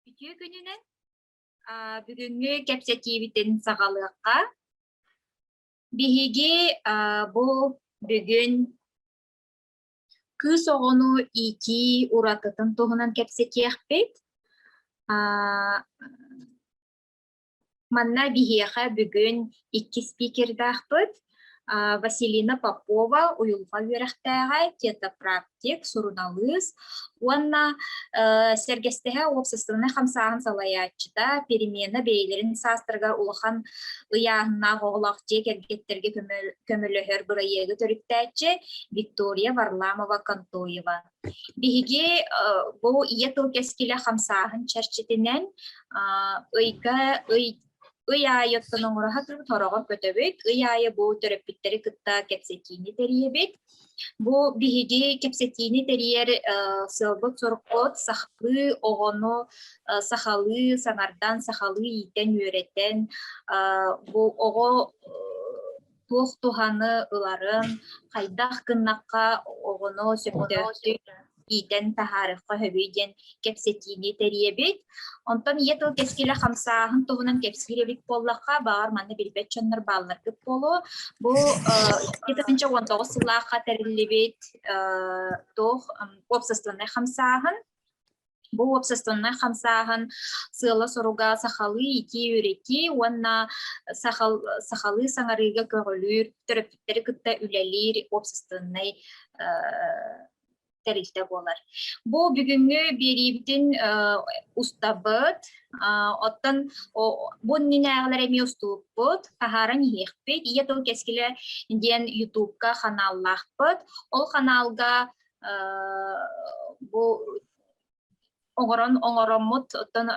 Үтүө күнүнэн бүгүҥҥү кэпсэтиибитин саҕалыахха. Биһиги бу бүгүн кыыс оҕону иитии уратытын туһунан кэпсэтиэхпит. Манна биһиэхэ бүгүн иккис спикердаахпыт Василина Попова, уйулҕа үөрэхтээҕэ, тетапрактик, суруналыыс уонна сэргэстэһэ уопсастыбаннай хамсааһын салайааччыта, перемена бэйэлэрин саастарыгар улахан ыйааһыннаах оҕолоох дьиэ кэргэттэргэ көмөлөһөр бырайыагы төрүттээччи Виктория Варламова-Контоева. Биһиги бу ийэ тыл кэскилэ хамсааһын чэрчитинэн ыйга ый ый аайы оттон оҥоро сатыыр тороҕо көтөбүт. Ый аайы бу төрөппүттэри кытта кэпсэтиини тэрийэбит. Бу биһиги кэпсэтиини тэрийэр сыалбыт-сорукпут сахалыы оҕону сахалыы саҥардан, сахалыы иитэн-үөрэтэн бу оҕо туох туһаны ыларын, хайдах гыннахха оҕону сөптөөхтүк иитэн таһаарыхха сөбүй диэн кэпсэтиини тэрийэбит. Онтон ийэ тыл кэскилэ хамсааһын туһунан кэпсиирэбит буоллахха, баҕар манна билбэт дьоннор баалларгыт буолуо. Бу 2019 сыллаахха тэриллибит туох уопсастыбаннай хамсааһын Бу уопсастыбаннай хамсааһын сыала-соруга сахалыы итии-үрэти уонна сахал, сахалыы саҥарыыга көҕүлүүр, төрөппүттэри кытта үлэлиир уопсастыбаннай тэрилтэ буолар. Бу бүгүҥҥү биэриибитин устабыт, оттон бу иннинээҕилэр эмиэ уступпут, таһааран иһиэхпит. Ийэ тыл кэскилэ диэн ютубка ханааллаахпыт. Ол ханаалга бу оҥорон оҥороммут оттон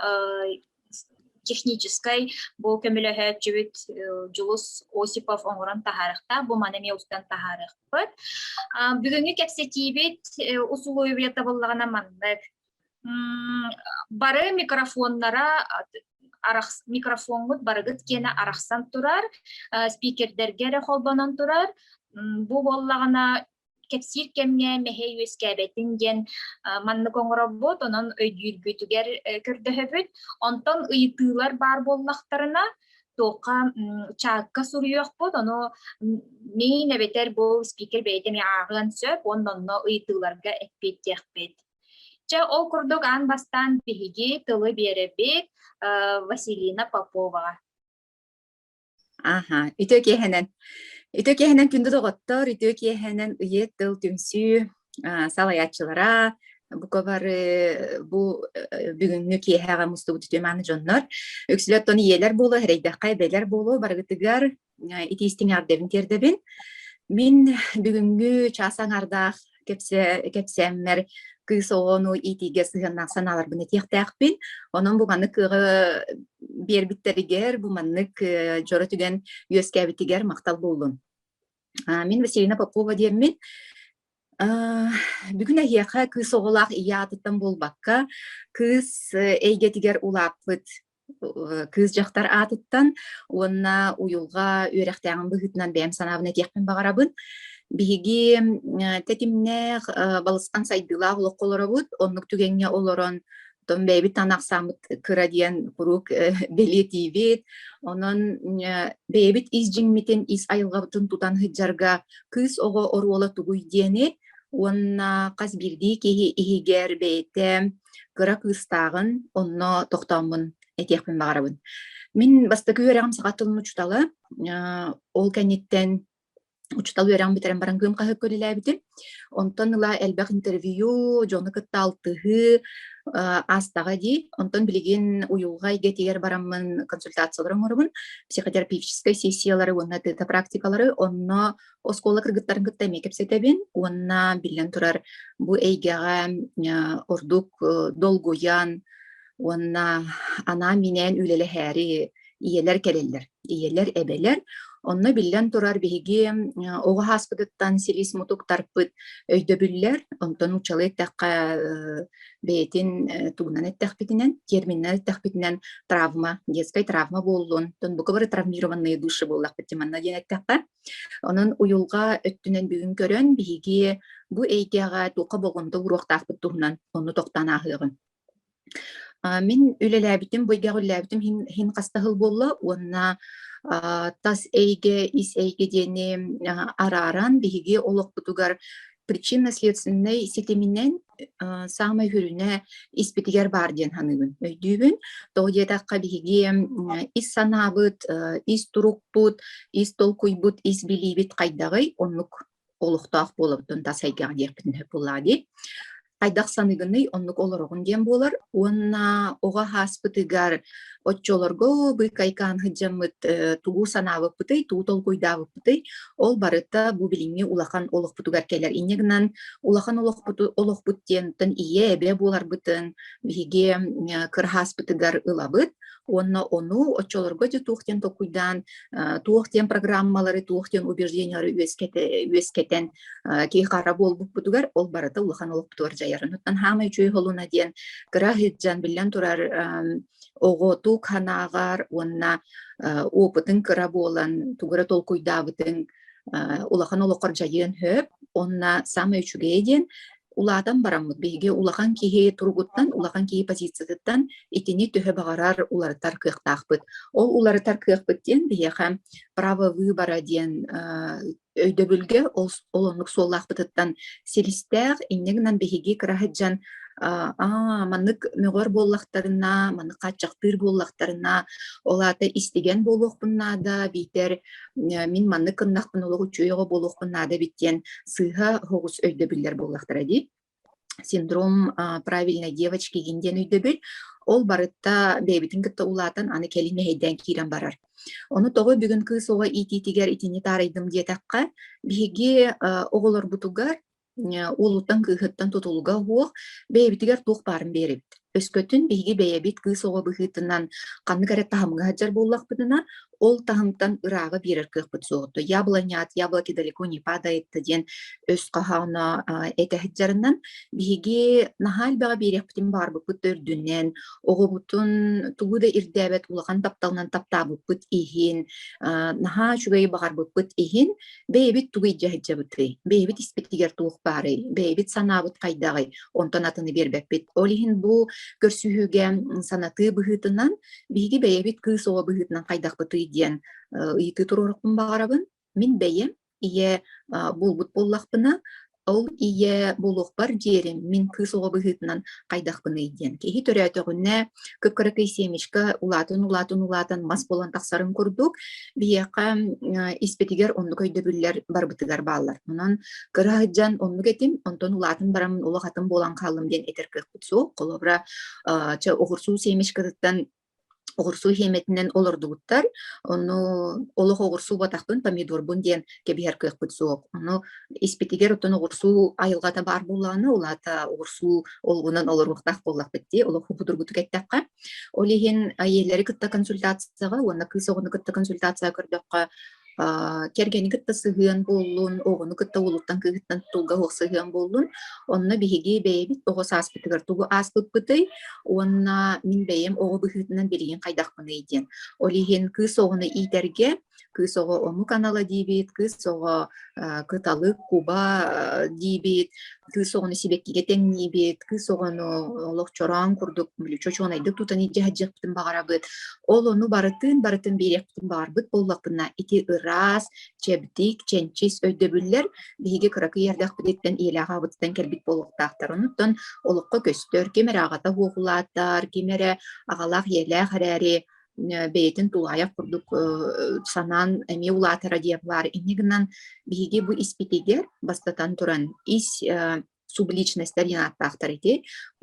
техническай бу көмөлөһөөччүбүт Дьулус Осипов оҥорон таһаарыахтаах бу маны эмиэ устан таһаарыахпыт бүгүҥҥү кэпсэтиибит усулуобуйа табыллаҕына маннык бары микрофоннара микрофоҥҥут барыгыт киэнэ арахсан турар спикердэргэ эрэ холбонон турар бу буоллаҕына кэпсиир кэмҥэ мэһэй үөскээбэтин диэн маннык оҥоробут, онон өйдүүргүтүгэр көрдөһөбүт. Онтон ыйытыылар баар буоллахтарына, туохха чаакка суруйуохпут, ону мин эбэтэр бу спикер бэйэтэ эмиэ ааҕыан сөп уонна онно ыйытыыларга эппиэттиэхпит. Чэ, ол курдук аан бастаан биһиги тылы биэрэбит Василина Поповаҕа. Аха, үтүө киэһэнэн. Үтүө киэһэнэн күндү доҕоттор, үтүө киэһэнэн ийэ тыл түмсүү а, салайааччылара, бука бары бу э, бүгүҥҥү киэһэҕэ мустубут үтүө мааны дьоннор. Үксүлэр оттон ийэлэр буолуо, эрэйдэххэ эбэлэр буолуо, барыгытыгар итиистиҥ эҕэрдэбин тиэрдэбин. Мин бүгүҥҥү чаас аҥардаах кэпсээммэр кыыс оҕону иитиигэ сыһыаннаах санааларбын этиэхтээхпин. Онон буҕаны кыаҕы биэрбиттэригэр бу маннык дьоро түгэн үөскээбитигэр махтал буоллун. Мин Василина Попова диэммин. Бүгүн эһиэхэ кыыс оҕолоох ийэ аатыттан буолбакка, кыыс эйгэтигэр улааппыт кыыс дьахтар аатыттан уонна уйулҕа үөрэхтээҕин быһыытынан бэйэм санаабын этиэхпин баҕарабын. Биһиги тэтимнээх, балысхан сайдыылаах олоххо олоробут. Оннук түгэҥҥэ олорон оттон бэйэбит анаахсааммыт кыра диэн куруук бэлиэтиибит. Онон бэйэбит ис дьиҥмитин, ис айылҕабытын тутан сылдьарга кыыс оҕо оруола тугуй диэни уонна хас биирдии киһи иһигэр бэйэтэ кыра кыыстааҕын, онно тохтооммун этиэхпин баҕарабын. Мин бастакы үөрэҕим саха тылын учуутала, ол кэнниттэн учуутал үөрэҕин бүтэрэн баран Кыым хаһыакка үлэлээбитим. Онтон ыла элбэх интервью, дьону кытта алтыһыы, аастаҕа дии. Онтон билигин уйулҕа эйгэтигэр бараммын консультациялары оҥоробун, психотерапевтическай сессиялары уонна тыата практикалары, онно оскуола кыргыттарын кытта эмиэ кэпсэтэбин уонна биллэн турар бу эйгэҕэ ордук долгуйан уонна анаа-минээн үлэлэһээри ийэлэр кэлэллэр ийэлэр эбэлэр онно биллэн турар биһиги оҕо ааспытыттан силис-мутуктарпыт өйдөбүллэр онтон нууччалыы эттэххэ бэйэтин тугунан эттэхпитинэн терминнэн эттэхпитинэн травма детскай травма буоллун тон бука бары травмированные души буоллахпыт манна диэн эттэххэ Онон уйулҕа өттүнэн бүгүн көрөн биһиги бу эйгэҕэ туохха болҕомто уруохтаахпыт туһунан онну тохтоон ааһыаҕын. Мин үлэлээбитим, бу эйгэҕэ үлэлээбитим иһин, иһин хаста сыл буолла уонна тас эйгэ, ис эйгэ диэни арааран биһиги олохпутугар причинно-следственнай ситиминэн саамай үрүнэ испитигэр баар диэн саныыбын өйдүүбүн тоҕо диэтэххэ биһиги ис санаабыт ис турукпут ис толкуйбут ис билиибит хайдаҕый оннук олохтоох буолабытын тас эйгэҕэ диэхпитин сөп буоллаҕа дии хайдах саныгыный оннук олороҕун диэн буолар уонна оҕо ааспытыгар оччолорго быыкайкаан сыдьаммыт тугу санаабыппытый тугу толкуйдаабыппытый ол барыта бу билиҥҥи улахан олохпутугар кэлэр инньэ гынан улахан олохпуту олохпут диэнтэн ийэ эбэ буоларбытын биһиги кыра ааспытыгар ылабыт уонна ону оччолорго де туох диэн толкуйдаан туох диэн программалары, туох диэн убеждениялары үөскэтэн киһи хара буолбуппутугар ол барыта улахан олохпутугар дьайарын оттон хаамай үчүгэй холуна диэн кыра сылдьан биллэн турар оҕоту ханааҕар уонна опытын кыра буолан тугура толкуйдаабытын улахан олоххор дьайыан сөп онно самое үчүгэй диэн улаатан бараммыт биһиги улахан киһи туругуттан улахан киһи позициятыттан итини төһө баҕарар уларытар кыахтаахпыт ол уларытар кыахпыт диэн биһиэхэ право выбора диэн өйдөбүлгэ ол оннук суоллаахпытыттан силистээх инньэ гынан биһиги кыраһыт дьон аа маннык мөҕөр буоллахтарына маннык хааччахтыыр буоллахтарына ол аата истигэн буолуохпун наада биитэр мин маннык кыннахпын олох үчүгэй оҕо буолуохпун наада эбит диэн сыыһа оҕус өйдөбүллэр буоллахтара дии синдром правильной девочки гин диэн өйдөбүл ол барытта бэйэбитин кытта улаатан аны кэлин мэһэйдээн киирэн барар ону тоҕо бүгүн кыыс оҕо иитиитигэр итини таарыйдым диэтэххэ биһиги оҕолорбутугар Уолуттан кыыһыттан тутулга уох, бэйэбитигэр туох баарын биэрэбит. Өскөтүн биһиги бэйэбит кыыс оҕо быһыытынан ханнык эрэ таһымҥа сылдьар буоллахпытына, ол таһымтан ырааҕы биэрэр кыахпыт суох ото яблонят, яблоки далеко не падает диэн өс хоһооно этэ сылдьарынан биһиги наһаа элбэҕи биэриэхпитин баарбыппыт да үрдүнэн, оҕобутун тугу да ирдээбэт улахан тапталынан таптаабыппыт иһин, наһаа үчүгэй баҕарбыппыт иһин бэйэбит тугу дьаһычабытый, бэйэбит испитигэр туох баарый, бэйэбит санаабыт хайдаҕый, онтон атыны биэрбэппит. Ол иһин бу көрсүһүүгэ санатыы быһыытынан, биһиги бэйэбит кыыс оҕо быһыытынан хайдахпытый диэн ыйытыы туруорукпун баҕарабын. Мин бэйэм ийэ буолбут буоллахпына, Ол ийэ буолуохпар диэри мин кыыс оҕо быһыытынан хайдахпыный диэн. Киһи төрөөтөҕүнэ кып-кыракый семечко улаатан-улаатан улаатан мас буолан тахсарын курдук, биһиэхэ испитигэр оннук өйдөбүллэр барбытыгар бааллар. Онон кыра сылдьан оннук этим, онтон улаатан бараммын олох атын буолан хааллым диэн этэр кыахпыт суох. Холобура, чэ, оҕурсуу семечкатыттан оҕурсу иһиэмэтинэн олордубуттар. Ону олох оҕурсу убатахпын, помидорбун диэн кэбиһэр кыахпыт суох. Ону испитигэр оттон оҕурсу айылҕата баар буоллаҕына, улаата оҕурсу олугунан олоруохтаах буоллахпыт дии, олох будургутук эттэххэ. Ол иһин айиэлэри кытта консультацияҕа уонна кыыс оҕону кытта консультацияҕа көрдөххө, кэргэни кытта сыһыан буоллун, оҕону кытта уолуттан кыыһыттан тулга уох сыһыан буоллун. Онно биһиги бэйэбит оҕо сааспытыгар тугу ааспыппытый уонна мин бэйэм оҕо быһыытынан билигин хайдахпыный диэн. Ол иһин кыыс оҕону иитэргэ кыыс оҕо омук анала диибит, кыыс оҕо кыталык, куба диибит, кыыс оҕону сибэккигэ тэҥниибит, кыыс оҕону олох чороон курдук чочуонайдык тутан илдьэ сылдьыахпытын баҕарабыт. Ол ону барытын барытын биэриэхпитин баарбыт буоллахпына ити ыраас, чэбдик, чэнчис өйдөбүллэр биһиги кыракый эрдэхпититтэн иэлээҕэбититтэн кэлбит буолуохтаахтар. Онуттан олоххо көстөр, ким эрэ аҕата уоһулаатар, ким эрэ аҕалаах ийэлээх эрээри бэйэтин тулаайах курдук санаан эмиэ улаатара диэн баар инньэ гынан биһиги бу испитигэр бастатан туран ис субличностьтар диэн ааттаахтар ити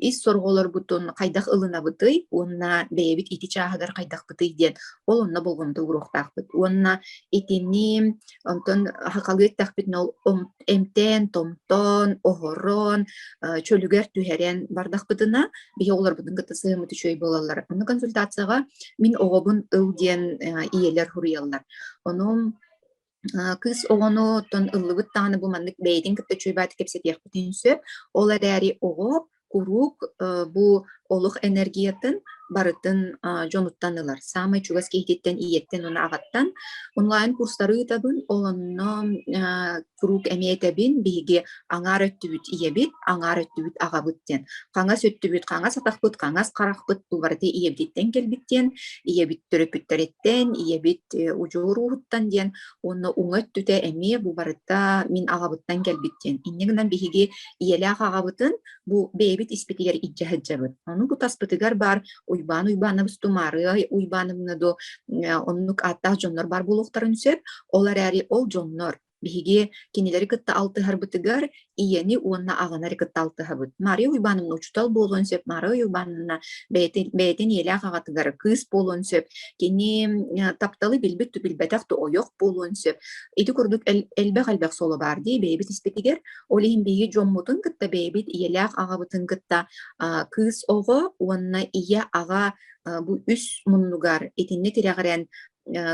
ис сорҕолоргутун хайдах ылынабытый уонна бэйэбит ити чааһыгар хайдахпытый диэн ол онно болҕомто ууруохтаахпыт уонна итини онтон хахалыы эттэхпитинэ ол эмтээн-томтоон, оһорон, э, чөлүгэр түһэрэн бардахпытына, биһи оҕолорбутун кытта сыһыммыт үчүгэй буолаллар. Онно консультацияҕа мин оҕобун ыл диэн э, ийэлэр суруйаллар. Онон кыыс оҕону оттон ыллыбыт даҕаны бу маннык бэйэтин кытта үчүгэйбээт кэпсэтиэхпитин сөп. Ол эрээри оҕо куруук бу олох энергиятын барытын дьонуттан ылар. Саамай чугас киһититтэн, ийэттэн уонна аҕаттан онлайн курстары ыытабын, онно куруук эмиэ этэбин, биһиги аҥаар өттүбүт ийэбит, аҥаар өттүбүт аҕабыт диэн. Хаҥас өттүбүт, хаҥас атахпыт, хаҥас харахпыт бу барыта ийэбититтэн кэлбит диэн, ийэбит төрөппүттэриттэн, ийэбит удьуор ууһуттан диэн уонна уҥа өттүтэ эмиэ бу барыта мин аҕабыттан кэлбит диэн инньэ гынан биһиги ийэлээх аҕабытын бу бэйэбит испитигэр илдьэ сылдьабыт ону бу таспытыгар баар уйбаан уйбаанабыс тумаарыай уйбаанабына до оннук ааттаах дьоннор баар буолуохтарын сөп ол эрээри ол дьоннор биһиги кинилэри кытта алтыһарбытыгар ийэни уонна аҕаны эрэ кытта алтыһабыт. Мария Уйбановна учуутал буолуон сөп, Мария Уйбановна бэйэтин, бэйэтин ийэлээх аҕатыгар кыыс буолуон сөп, кини тапталы билбит да билбэтэх да ойох буолуон сөп. Ити курдук элбэх-элбэх соло баар дии бэйэбит испитигэр, ол иһин биһиги дьоммутун кытта бэйэбит ийэлээх аҕабытын кытта кыыс оҕо уонна ийэ аҕа бу үс муннугар итинник тирэҕирэн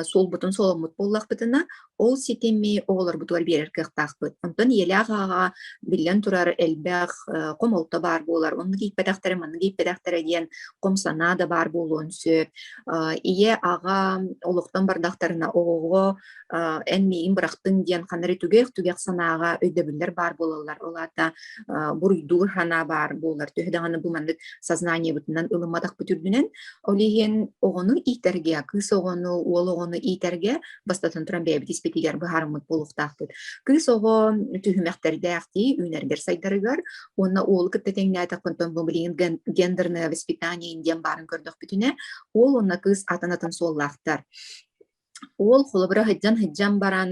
суолбутун соломмут буоллахпытына, ол ситими оҕолорбутугар биэрэр кыахтаахпыт. Онтон ийэлээх ааҕаҕа биллэн турар элбэх хомолто баар буолар. Онно кииппэтэхтэрэ, манна кииппэтэхтэрэ диэн хом санаа да баар буолуон сөп. Ийэ аҕа олохтон бардахтарына оҕоҕо эн миигин бырахтың диэн ханна эрэ түгэх-түгэх санааҕа өйдөбүллэр баар буолаллар. Ол аата буруйдуур санаа баар буолар. Төһө даҕаны бу маннык сознаниебытынан ылымматах бүтүрдүнэн, Ол иһин оҕону иитэргэ, кыыс оҕону, уол оҕону иитэргэ бастатан туран бэйэбит испитигэр быһаарыммыт буолуохтаахпыт. Кыыс оҕо түһүмэхтэрдээх дии үүнэргэр сайдарыгар уонна уолу кытта тэҥнээтэхпинтэн бу билигин гендерное воспитание диэн баарын көрдөхпүтүнэ уол уонна кыыс атын атын суоллаахтар Уол холобура сылдьан-сылдьан баран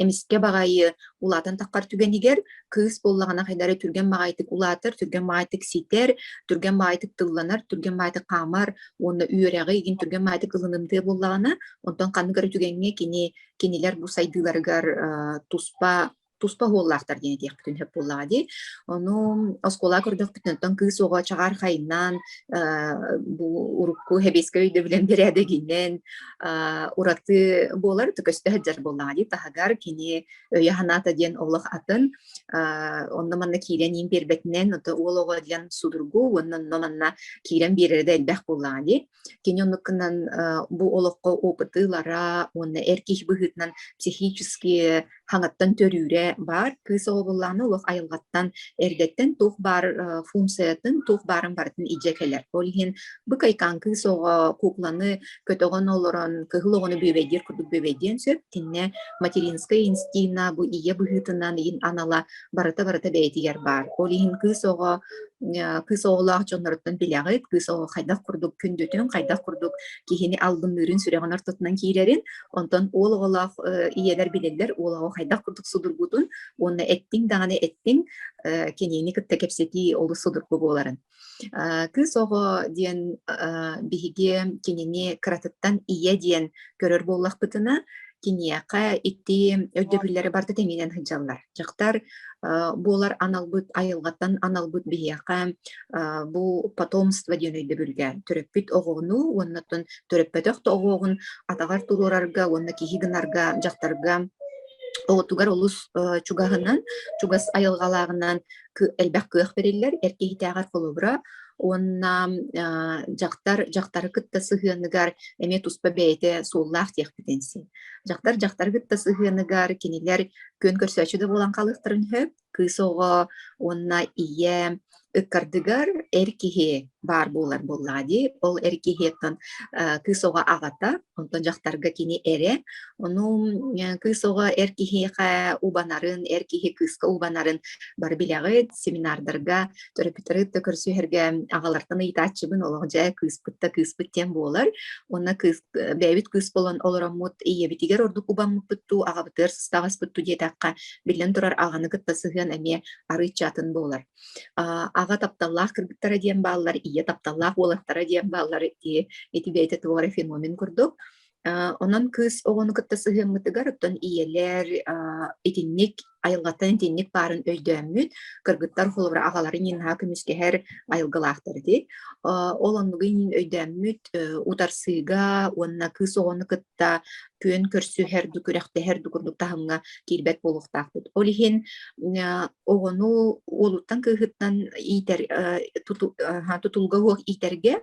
эмискэ баҕайы улаатан таххар түгэнигэр кыыс буоллаҕына хайдах эрэ түргэн баҕайытык улаатар, түргэн баҕайытык ситэр, түргэн баҕайытык тылланар, түргэн баҕайытык хаамар уонна үөрэҕи игин түргэн баҕайытык ылынымтыа буоллаҕына, онтон ханнык эрэ түгэҥҥэ кини кинилэр бу сайдыыларыгар туспа туспа уһууллаахтар диэн этиэхпитин сөп буоллаҕа дии. Ону оскуола көрдөхпүтүнэн кыыс оҕо чаҕаар хайнаан бу урукку хэбиэскэ өйдөбүлэн бэрээдэгинэн ураты буолар көстө сылдьар буоллаҕа дии таһыгар кини өйө-санаата диэн олох атын онно манна киирэн иин биэрбэтинэн ото уол оҕо диэн судургу уонна онно манна киирэн биэрэрэ да элбэх буоллаҕа дии Кини оннукунан бу олоххо опыты ылара уонна эр киһи быһыытынан психически хаҥаттан төрүүрэ баар. Кыыс оҕо буоллаҕына олох айылҕаттан, эрдэттэн туох баар функциятын, туох баарын барытын илдьэ кэлэр. Ол иһин бу кайкаан кыыс оҕо кукланы көтөҕөн олорон кыһыл оҕону бүөбэйдиир курдук бүөбэйдиэн сөп. Итиннэ материнскай инстинкт бу ийэ быһыытынан, ийин анала барыта барыта бэйэтигэр баар. Ол иһин кыыс оҕо кыыс оҕолоох дьонноруттан билэҕит, кыыс оҕо хайдах курдук күндүтүн, хайдах курдук киһини албынныырын сүрэҕин ортотунан киирэрин, онтон уол оҕолоох ийэлэр билэллэр уол оҕо хайдах курдук судургутун уонна эттиҥ даҕаны эттиҥ кинини кытта кэпсэтии олус судургу буоларын. Кыыс оҕо диэн биһиги кинини кыратыттан ийэ диэн көрөр буоллахпытына, киниэхэ ити өйдөбүллэрэ барыта тэмиинэн сылдьаллар. Дьахтар буолар аналбыт айылҕаттан аналбыт биһиэхэ бу потомство диэн өйдөбүлгэ төрөппүт оҕону уонна төрөппөтөх да оҕоҕун атаҕар туруорарга уонна киһи гынарга дьахтарга оҕотугар олус чугаһынан, чугас айылҕалааҕынан элбэх кыах бериллер эр киһитээҕэр холобура уонна дьахтар дьахтары кытта сыһыаныгар эмиэ туспа бэйэтэ суоллаах диэхпитин син дьахтар дьахтары кытта сыһыаныгар кинилэр күөн көрсөөччү да буолан хаалыахтарын сөп кыыс оҕо уонна ийэ ыккардыгар эр киһи баар буолар буоллаҕа дии. Ол эр киһиэттэн кыыс оҕо аҕата, онтон дьахтарга кини эрэ. Ону кыыс оҕо эр киһиэхэ убанарын, эр киһи кыыска убанарын бары билэҕит. Семинардарга төрөппүттэрит да көрсүһэргэ аҕалартан ыйытааччыбын олох дьэ кыыспыт да кыыспыт диэн буолар. Уонна кыыс бэйэбит кыыс болон олороммут ийэбитигэр ордук убаммыппыт дуу, аҕабытыгар сыстаҕаспыт дуу диэтэххэ, биллэн турар аҕаны кытта сыһыан эмиэ арыычча атын буолар. Аҕа тапталлаах кыргыттара диэн бааллар, ийэ тапталлаах уолаттара диэн бааллар ити ити бэйэтэ туора феномен курдук. Онон кыыс оҕону кытта сыһыаммытыгар оттон ийэлэр итинник айылҕаттан итинник баарын өйдөөммүт кыргыттар холобура аҕаларын иин наһаа көмүскэһэр айылгылаахтар этэ ол оннугу иин өйдөөммүт утарсыыга уонна кыыс оҕону кытта күөн көрсүһэр да күрэхтэһэр да курдук таһымҥа киирбэт буолуохтаахпыт. Ол иһин оҕону уолуттан кыыһыттан иитэр тутулга уох иитэргэ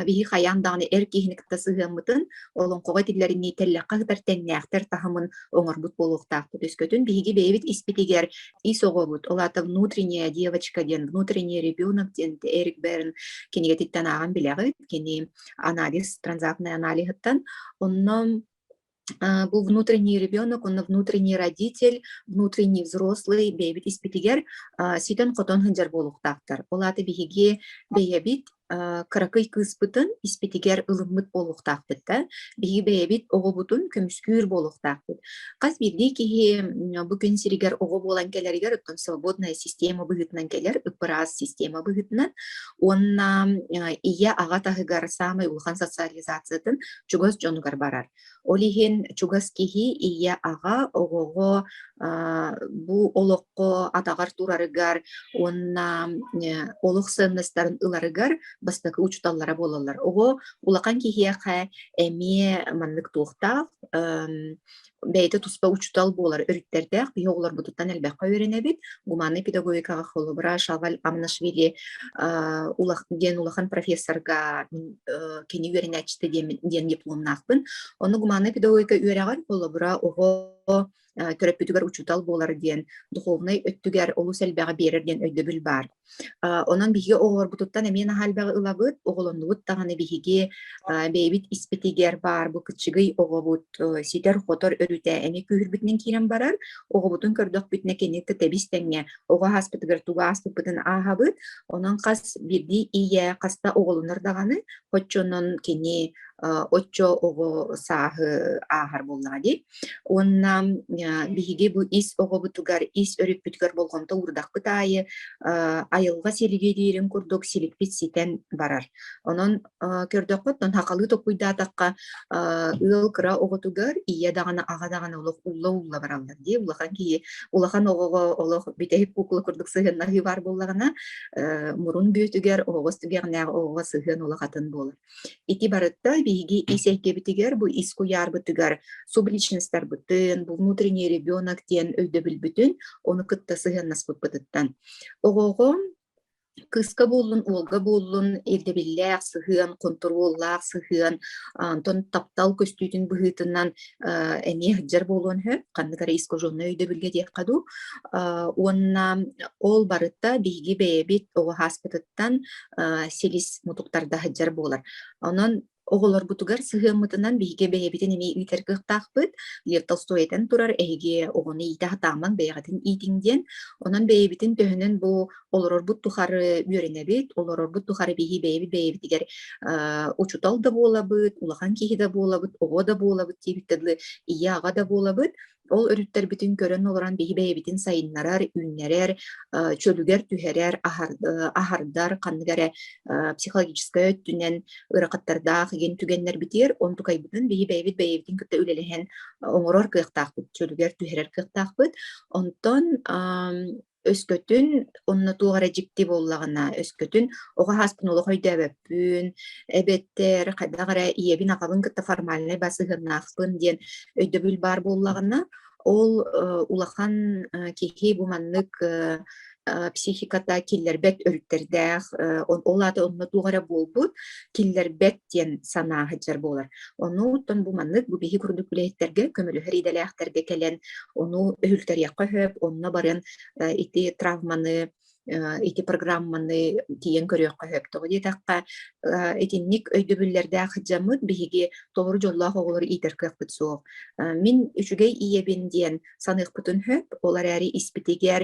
биһи хайаан даҕаны эр киһини кытта сыһыаммытын олоҥхоҕо этиллэринии тэллэххэ сытар тэҥнээхтэр таһымын оҥорбут буолуохтаахпыт үскөтүн биһиги бэйэбит испитигэр ис оҕобут ол аата внутренняя девочка диэн внутренний ребенок диэн эрик бэрин кинигэтиттэн ааҕан билэҕит кини анализ, транзактный аналиһыттан. Онно бу внутренний ребенок, онно внутренний родитель, внутренний взрослый бэйэбит испитигэр ситэн-хотон сылдьар буолуохтаахтар. Ол аата биһиги бэйэбит кыракый кыыспытын испитигэр ылыммыт буолуохтаахпыт да, биһиги бэйэбит оҕобутун көмүскүүр буолуохтаахпыт. Хас биирдии киһи бу күн сиригэр оҕо буолан кэлэригэр, оттон свободная система быһыытынан кэлэр, ып-ыраас система быһыытынан, уонна ийэ аҕа таһыгар саамай улахан социализациятын чугас дьонугар барар. Ол иһин чугас киһи ийэ аҕа оҕоҕо бу олоххо атаҕар турарыгар уонна олох сыаннастарын ыларыгар бастакы учууталлара буолаллар. Оҕо улахан киһиэхэ эмиэ маннык туохтаах бэйэтэ туспа учуутал буолар өрүттэрдээх киһи оҕолорбутуттан элбэххэ үөрэнэбит гуманнай педагогикаҕа холобура Шаваль Амнашвили улах диэн улахан профессорга мин кини үөрэнээччитэ диэн, диэн дипломнаахпын ону гуманнай педагогика үөрэҕэр холобура оҕо төрөппүтүгэр учуутал буолар диэн духовнай өттүгэр олус элбэҕи биэрэр диэн өйдөбүл баар Онон биһиги оҕолорбутуттан эмиэ наһаа элбэҕи ылабыт, оҕолоннубут даҕаны биһиги бэйэбит испитигэр баар бу кыччыгый оҕобут ситэр-хотор өрүтэ эмиэ күүһүрбүтүнэн киирэн барар. Оҕобутун көрдөхпүтүнэ кинини кытта тэбис-тэҥҥэ оҕо ааспытыгар тугу ааспыппытын ааһабыт. Онон хас биирдии ийэ хаста оҕолонор даҕаны оччонон кини оччо оҕо сааһы ааһар буоллаҕа дии. Уонна биһиги бу ис оҕобутугар, ис өрүппүтүгэр болҕомто уурдахпыт аайы айылҕа силигириирин курдук силикпит ситэн барар. Онон көрдөххүт, хахалыы топпуйдаатахха ыал кыра оҕотугар ийэ даҕаны аҕа даҕаны олох улла-улла бараллар дии улахан киһи улахан оҕоҕо олох бүтэһик кукула курдук сыһыаннарыы баар буоллаҕына мурун бүөтүгэр оҕоҕо түгэҕнээх оҕоҕо сыһыан улахатын буолар Ити барыта биһиги ис эйгэбитигэр, бу ис куйаарбытыгар субличностарбытын, бу внутренний ребенок диэн өйдөбүлбүтүн ону кытта сыһыаннаспыппытыттан. Оҕоҕо кыыска буоллун, уолга буоллун ирдэбиллээх сыһыан, хонтуруоллаах сыһыан, онтон таптал көстүүтүн быһыытынан эмиэ сылдьар буолуон сөп, ханнык эрэ искаженнай өйдөбүлгэ диэххэ дуу. уонна ол барыта биһиги бэйэбит оҕо ааспытыттан силис мутуктарда сылдьар буолар. Онон оҕолорбутугар сыһыаммытынан биһиги бэйэбитин эмиэ иитэр кыахтаахпыт. Лев Толстой этэн турар, эһиги оҕону иитэ сатаамаҥ, бэйэҕитин иитиҥ диэн. Онон бэйэбитин төһөнөн бу олорорбут тухары үөрэнэбит, олорорбут тухары биһи бэйэбит бэйэбитигэр учутал да буолабыт, улахан киһи да буолабыт, оҕо да буолабыт диэбит тылы ийэ-аҕа да буолабыт. Ол өрүттэрбитин көрөн олорон биһи бэйэбитин сайыннарар, үүннэрэр, чөлүгэр түһэрэр, аһардар ханнык эрэ психологическай өттүнэн ыарахаттардаах игин түгэннэрбитигэр онтукайбытын биһи бэйэбит бэйэбитин кытта үлэлэһэн оҥорор кыахтаахпыт, чөлүгэр түһэрэр кыахтаахпыт. Онтон өскөтүн онно туох эрэ дьикти буоллаҕына өскөтүн оҕо ааспын олох өйдөөбөппүн эбэтэр хайдах эрэ ийэбин-аҕабын кытта формальнай бас сыһыаннаахпын диэн өйдөбүл баар буоллаҕына ол улахан киһи бу маннык психиката киллэрбэт өрүттэрдээх ол аата онно туох эрэ буолбут киллэрбэт диэн санаа сылдьар буолар Оннуттан бу маннык бу биһи курдук үлэһиттэргэ көмөлөһөр идэлээхтэргэ кэлэн ону өһүлтэриэххэ сөп, онно баран ити травманы ити программаны тиийэн көрүөххэ сөп. Тоҕо диэтэххэ, итинник өйдөбүллэрдээх дьаммыт биһиги толору дьоллоох оҕолору иитэр кыахпыт суох. Мин үчүгэй ийэбин диэн саныахпытын сөп. Ол эрээри испитигэр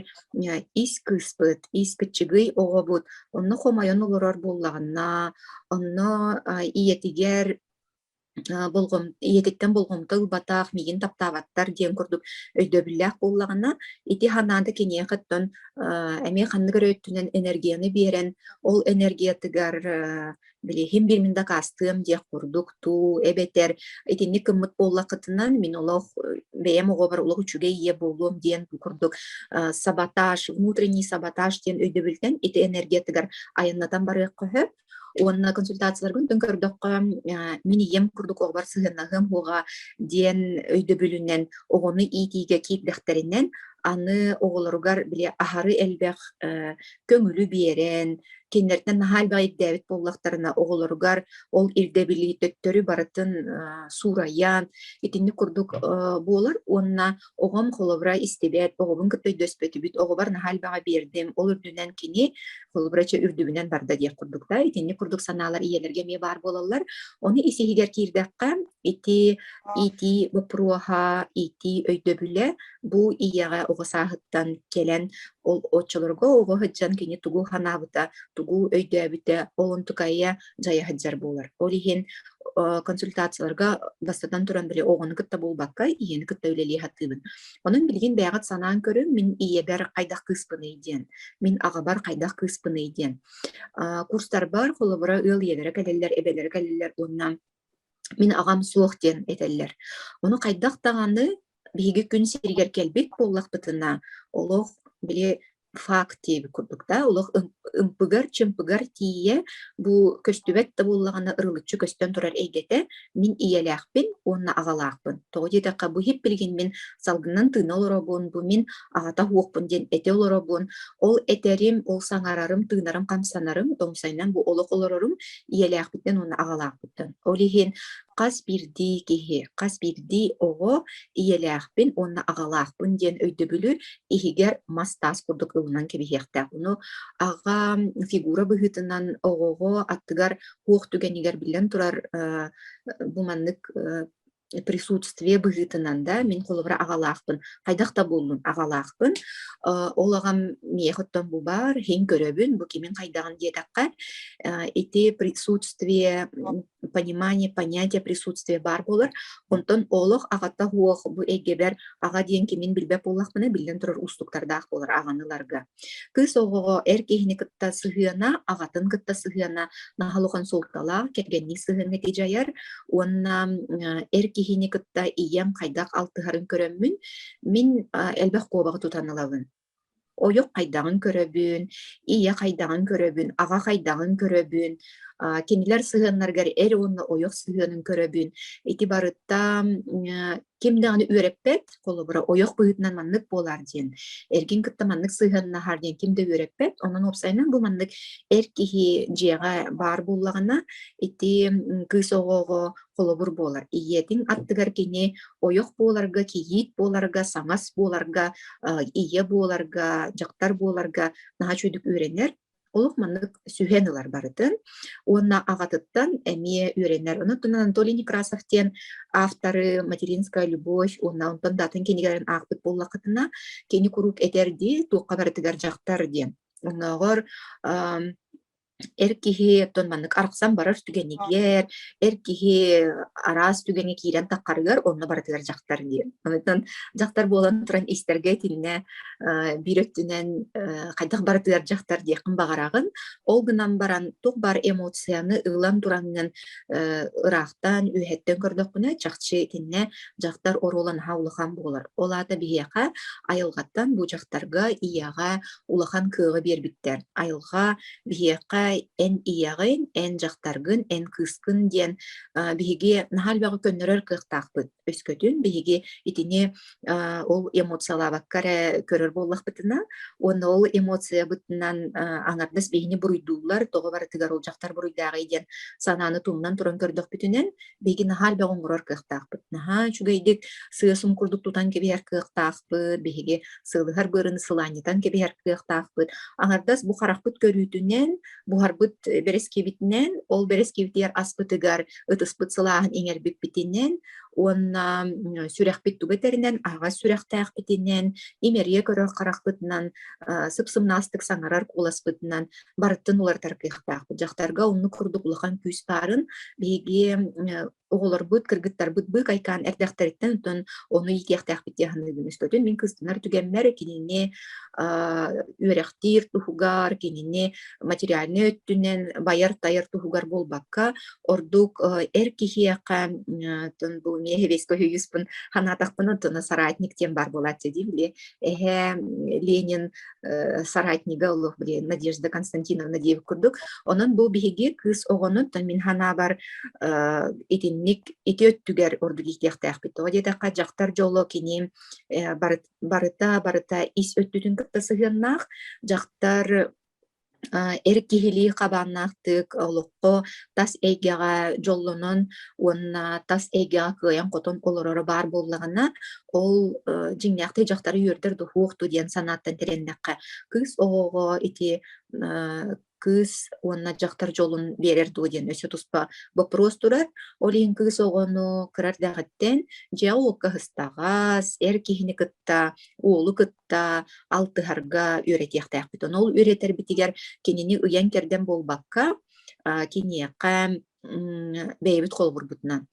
ис кыыспыт, испит чыгый оҕобут онно хомойон олорор буоллаҕына, онно ийэтигэр болҕом ийэтиттэн болҕомто ылбатах миигин таптаабаттар диэн курдук өйдөбүллээх буоллаҕына ити санаата киниэхиттэн эмиэ ханнык эрэ өттүнэн энергияны биэрэн ол энергиятыгар билиһим биэрмин дакаастыам диэх курдук туу эбэтэр итинник гыммыт буоллахытынан мин олох бэйэм оҕобор олох үчүгэй ийэ буолуом диэн бу курдук саботаж внутренний саботаж диэн өйдөбүлтэн ити энергиятыгар айаннатан барыахха сөп уонна консультацияларгын төн көрдөххө мин ийэм курдук оҕобор сыһыаннаһыам уоҕа диэн өйдөбүлүнэн оҕону иитиигэ киирдэхтэринэн аны оҕолоругар били аһары элбэх көҥүлү биэрэн, кинилэртэн наһаа элбэҕи ирдээбит буоллахтарына, оҕолоругар ол ирдэбили төттөрү барытын суурайан, итинник курдук буолар уонна оҕом холобура истибэт, оҕобун кытта өйдөспөтүбүт, оҕобор наһаа элбэҕи биэрдим, ол үрдүнэн кини холобура чэ үрдүбүнэн барда диэх курдук да, итинник курдук санаалар ийэлэргэ эмиэ баар буолаллар. Оны ис-иһигэр киирдэххэ, ити иитии боппуруоһа, иитии өйдөбүлэ бу ийэҕэ оҕо сааһыттан кэлэн ол оччолорго оҕо сылдьан кини тугу санаабыта, тугу өйдөөбүтэ ол онтукайа дьайа сылдьар буолар. Ол иһин консультацияларга бастатан туран били оҕону кытта буолбакка ийэни кытта үлэлии сатыыбын. Онон билигин бэйэҕит санаан көрүҥ, мин ийэбэр хайдах кыыспыный диэн, мин аҕабар хайдах кыыспыный диэн. курстарбар холобура ыал ийэлэрэ кэлэллэр, эбэлэрэ кэлэллэр уонна мин аҕам суох диэн этэллэр. Ону хайдах даҕаны биһиги күн сиригэр кэлбит буоллахпытына, олох били факт диэбит курдук да, олох ымпыгар-чымпыгар тиийэ бу көстүбэт да буоллаҕына ырылыччы көстөн турар эйгэтэ мин ийэлээхпин уонна аҕалаахпын. Тоҕо диэтэххэ бу һиппилигин мин салгынынан тыына олоробун, бу мин аҕата уохпун диэн этэ олоробун. Ол этэрим, ол саҥарарым, тыынарым, хамсанарым, оҥсайынан бу олох олорорум ийэлээхпиттэн уонна аҕалаахпыттан. Ол иһин хас биирдии киһи, хас биирдии оҕо ийэлээхпин уонна аҕалаахпын диэн өйдөбүлү иһигэр мас-таас курдук ылынан кэбиһиэхтээх. Ону аҕа фигура быһыытынан оҕоҕо аттыгар туох түгэнигэр биллэн турар бу маннык присутствие быһыытынан да мин холобура аҕалаахпын хайдах да буоллун аҕалаахпын ол аҕам миэхэ оттон бу баар иһин көрөбүн бу кимин хайдаҕын диэтэххэ ити присутствие понимание, понятие присутствия баар буолар. Онтон олох аҕата уох бу эйгэбэр аҕа диэн кимин билбэт буоллахпына биллэн турар уустуктардаах буолар аҕаныларга. Кыыс оҕоҕо эр киһини кытта сыһыана, аҕатын кытта сыһыана наһал улахан суолталаах, кэргэнник сыһыаҥҥа дьайар уонна эр киһини кытта ийэм хайдах алтыһарын көрөммүн, мин элбэх куобаҕы тутан ылабын. Ойох хайдаҕын көрөбүн, ийэ хайдаҕын көрөбүн, аҕа хайдаҕын көрөбүн, а, кинилэр сыһыаннарыгар эр уонна ойох сыһыанын көрөбүн. Ити барыттан э, ким даҕаны үөрэппэт, холобура, ойох быһыытынан маннык буолаар диэн, эргин кытта маннык сыһыаннаһаар диэн ким да үөрэппэт. Онон уопсайынан бу маннык эр киһи дьиэҕэ баар буоллаҕына, ити м, кыыс оҕоҕо холобур буолар. Ийэтин аттыгар кини ойох буоларга, кийиит буоларга, саҥас буоларга, ийэ буоларга, дьахтар буоларга наһаа үчүгдүк үөрэнэр олох маннык сүһэн ылар барытын. Уонна аҕатыттан эмиэ үөрэнэр. Онон Анатолий Некрасов диэн авторы «Материнская любовь» уонна онтон даатын кинигэлэрин аахпыт буоллаххытына, кини куруук этэр дии, туохха барытыгар дьахтар диэн. Оннооҕор Эр киһи оттон маннык арахсан барар түгэнигэр, эр киһи араас түгэҥҥэ киирэн таххарыгар онно барытыгар дьахтар диэн. Онтон дьахтар буолан туран истэргэ итиннэ э, биир өттүнэн э, хайдах барытыгар дьахтар диэххин баҕараҕын. Ол гынан баран туох баар эмоцияны ылан тураҥҥын э, ыраахтан, үөһэттэн көрдөххүнэ чахчы итиннэ дьахтар оруола наһаа улахан буолар. Ол аата биһиэхэ айылҕаттан бу дьахтарга, ийэҕэ, улахан кыаҕы биэрбиттэр. Айылҕа биһиэхэ эн ийэҕин, эн дьахтаргын, эн кыыскын диэн биһиги наһаа элбэҕи көннөрөр кыахтаахпыт. Өскөтүн биһиги итини ол эмоциялаабакка эрэ көрөр буоллахпытына, уонна ол эмоциябытынан аҥардас биһини буруйдууллар, тоҕо барытыгар ол дьахтар буруйдааҕый диэн санааны тумнан туран көрдөхпүтүнэн, Биһиги наһаа элбэх оҥорор кыахтаахпыт. Наһаа үчүгэйдик сыа-сум курдук тутан кэбиһэр кыахтаахпыт, биһиги сылыһар быарыны сылаанньытан кэбиһэр кыахтаахпыт. Аҥардас бу харахпыт көрүүтүнэн, буһарбыт бэрэскиэбитинэн, ол бэрэскиэбитигэр аспытыгар ытыспыт сылааһын иҥэрбиппитинэн уонна сүрэхпит туга тэринэн аһаҕас сүрэхтээхпитинэн, имэрийэ көрөр харахпытынан, сып-сымнаастык саҥарар кууласпытынан барыттан уларытар кыахтаахпыт. Дьахтарга оннук курдук улахан күүс баарын биһиги оҕолорбут, кыргыттарбыт бык айкаан эрдэхтэриттэн өтөн ону иитиэхтээхпит диэн саныыбын. Өстөтүн мин кыстанар түгэммэр кинини үөрэхтиир туһугар, кинини материальнай өттүнэн байар-тайар туһугар буолбакка, ордук эр киһиэхэ бу миэһэбиэскэ үһүйүспүн ханаатахпына тына соратник диэн баар буолааччы дии били эһэ Ленин соратнига олох блин Надежда Константиновна диэбит курдук. Онон бу биһиги кыыс оҕонуттан мин ханаабар итинник ити өттүгэр орду диэтиэхтээхпит. Тоҕо диэтэххэ дьахтар дьоло кини барыта барыта ис өттүтүн кытта сыһыаннаах. Дьахтар эр киһилии хабааннаахтык олоххо тас эйгэҕэ дьоллонон уонна тас эйгэҕэ кыайан-хотон олороро баар буоллаҕына, ол, э, дьиҥнээхтик дьахтары үөрдэр да уһуохту диэн санааттан тирэннэххэ, кыыс оҕоҕо ити, э, кыыс уонна дьахтар дьолун биэрэр дуо диэн өссө туспа боппуруос турар. Ол иһин кыыс оҕону кырар даҕаттан дьиэ-уокка ыстаҕас, эр киһини кытта уолу кытта алтыһарга үөрэтиэхтээхпит. Ону ол үөрэтэрбитигэр кинини ыйан-кэрдэн буолбакка, киниэхэ бэйэбит холобурбутунан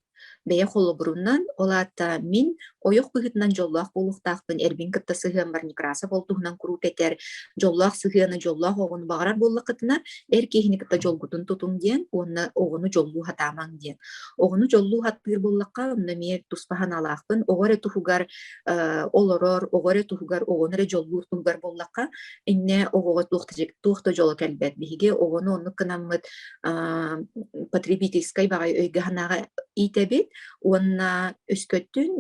бэйэ холобурунан, ол аата мин ойох быһыытынан дьоллоох буолуохтаахпын, эрбин кытта сыһыаммар Некрасова туһунан куруук этэр, дьоллоох сыһыаны, дьоллоох оҕону баҕарар буоллаххытына, эр киһини кытта дьолгутун тутуҥ диэн уонна оҕону дьоллуу сатаамаҥ диэн. Оҕону дьоллуу аттыыр буоллахха, онно эмиэ туспа санаалаахпын. Оҕо эрэ туһугар олорор оҕо эрэ туһугар оҕону эрэ дьоллуур туһугар буоллахха иннэ оҕоҕо туох да туох да дьоло кэлбэт биһиги оҕону оннук гынаммыт потребительскай баҕай өйгө санааҕа иитэбит уонна өскөттүн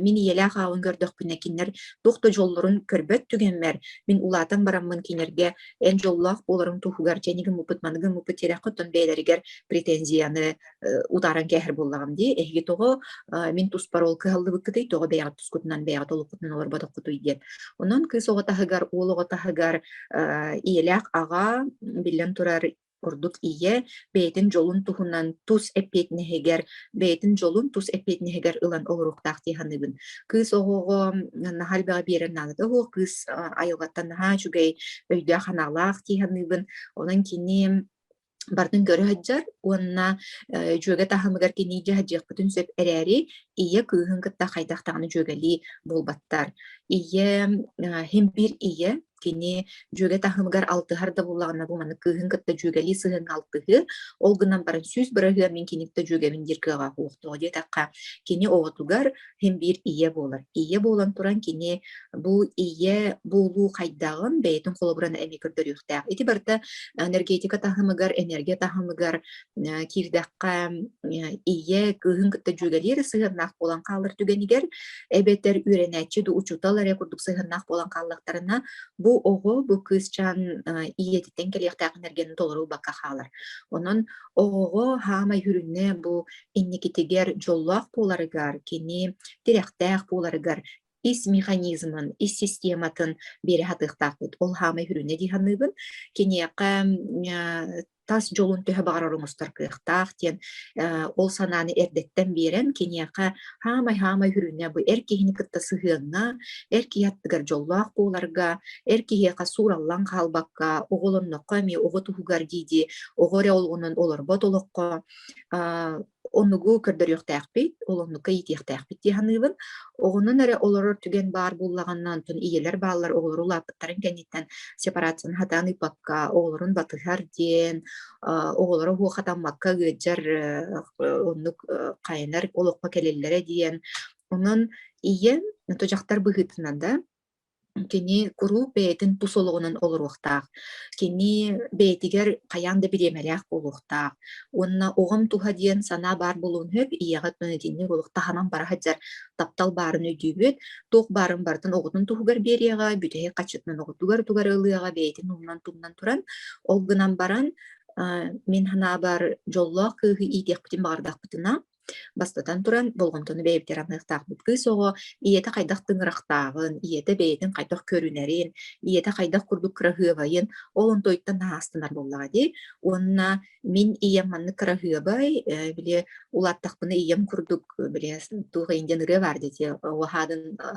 мин ийэлээх аалын көрдөхпүнэ кинилэр туох да дьоллорун көрбөт түгэммэр мин улаатан бараммын кинилэргэ эн дьоллоох буоларыҥ туһугар дьэни гыммыппыт маныгы гыммыппыт тирэххэ оттон бэйэлэригэр претензияны утааран кээһэр буоллаҕым дии эһиги тоҕо мин туспар ол кыһаллыбыккытый тоҕо бэйэҕит тускутунан бэйэҕит олоххутунан олорботоххутуй диэн онон кыыс оҕо таһыгар уол оҕо таһыгар ийэлээх аҕа биллэн турар ордук ийэ бэйэтин дьолун туһунан тус эппиэтинэһигэр бэйэтин дьолун тус эппиэтинэһигэр ылан олоруохтаах дии саныыбын кыыс оҕоҕо наһаа элбэҕи биэрэн наадата уо кыыс айылҕаттан наһаа үчүгэй өйдөөх санаалаах дии саныыбын онон кини барытын көрө сылдьар уонна э, дьүөгэ таһымыгар кинии дьэ сылдьыахпытын сөп эрээри ийэ кыыһын кытта хайдах даҕаны дьүөгэлии буолбаттар. Ийэ э, хим биир ийэ кини дьүөгэ таһымыгар алтыһар да буоллаҕына бу маннык кыыһын кытта дьүөгэлии сыһыаҥҥа алтыһыы ол гынан баран сүүс бырайыа мин киниттэ дьүөгэбин диир кыаҕа суохтоҕо диэтэххэ кини оҕотугар син биир ийэ буолар. Ийэ буолан туран кини бу ийэ буолуу хайдаҕын бэйэтин холобуран эмиэ көрдөрүөхтээх. Ити барыта энергетика таһымыгар, энергия таһымыгар киирдэххэ ийэ кыыһын кытта дьүөгэлиэр сыһыаннаах буолан хаалар түгэнигэр эбэтэр үөрэнээччи да учуутал эрэ курдук сыһыаннаах буолан хааллахтарына бу оҕо бу кыысчаан ийэтиттэн кэлиэхтээх энергияны толору бакка хаалар. Онон оҕоҕо хаамай хүрүнэ бу инникитигэр дьоллоох буоларыгар, кини тирэхтээх буоларыгар ис механизмын, ис систематын биэрэ сатыахтаахпыт. Ол хаамай хүрүнэ дии саныыбын. Киниэхэ тас дьолун төһө баҕарар оҥостор кыахтаах диэн ол санааны эрдэттэн биэрэн киниэхэ хаамай-хаамай хүрүнэ бу эр киһини кытта сыһыаҥҥа, эр киһи аттыгар дьоллоох буоларга, эр киһиэхэ суураллан хаалбакка, оҕолонноххо эмиэ оҕо туһугар дии-дии оҕо эрэ олоҕунан олорбот олоххо оннугу көрдөрүөхтээхпит, ол оннукка иитиэхтээхпит дии саныыбын. Оҕонон эрэ олорор түгэн баар буоллаҕына, онтон ийэлэр бааллар оҕолору улааппыттарын кэнниттэн сепарацияны хатаан ыыппакка, оҕолорун батыһар диэн, оҕолоро уһу хатаммакка ыалдьар оннук хайанар олоххо кэлэллэрэ диэн. Онон ийэм, дьахтар быһыытынан да Кини куруук бэйэтин тус олоҕунан олоруохтаах. Кини бэйэтигэр хайаан да бириэмэлээх буолуохтаах. Уонна оҕом туһа диэн санаа баар буолуон сөп, ийэҕит маны итинник буолуох, таһынан бара сылдьар таптал баарын өйдүүбүт. Туох баарын барытын оҕотун туһугар биэриэҕэ, бүтэһик хаччытынан оҕотугар-утугар ылыаҕа бэйэтин умнан-тумнан туран. Ол гынан баран, а, мин санаабар дьоллоох кыыһы иитиэхпитин баҕардахпытына Бастатан туран, болҕомтону бэйэбитигэр арныахтаахпыт. Кыыс оҕо ийэтэ хайдах тыҥырахтаҕын, ийэтэ бэйэтин хайдах көрүнэрин, ийэтэ хайдах курдук кыраһыабайын ол онтуйтан аастанар буоллаҕа дии. Уонна мин ийэм маннык кыраһыабай, э, били улааттахпына ийэм курдук, э, били туох иһин диэн ырыа баар дии, уһаадын а,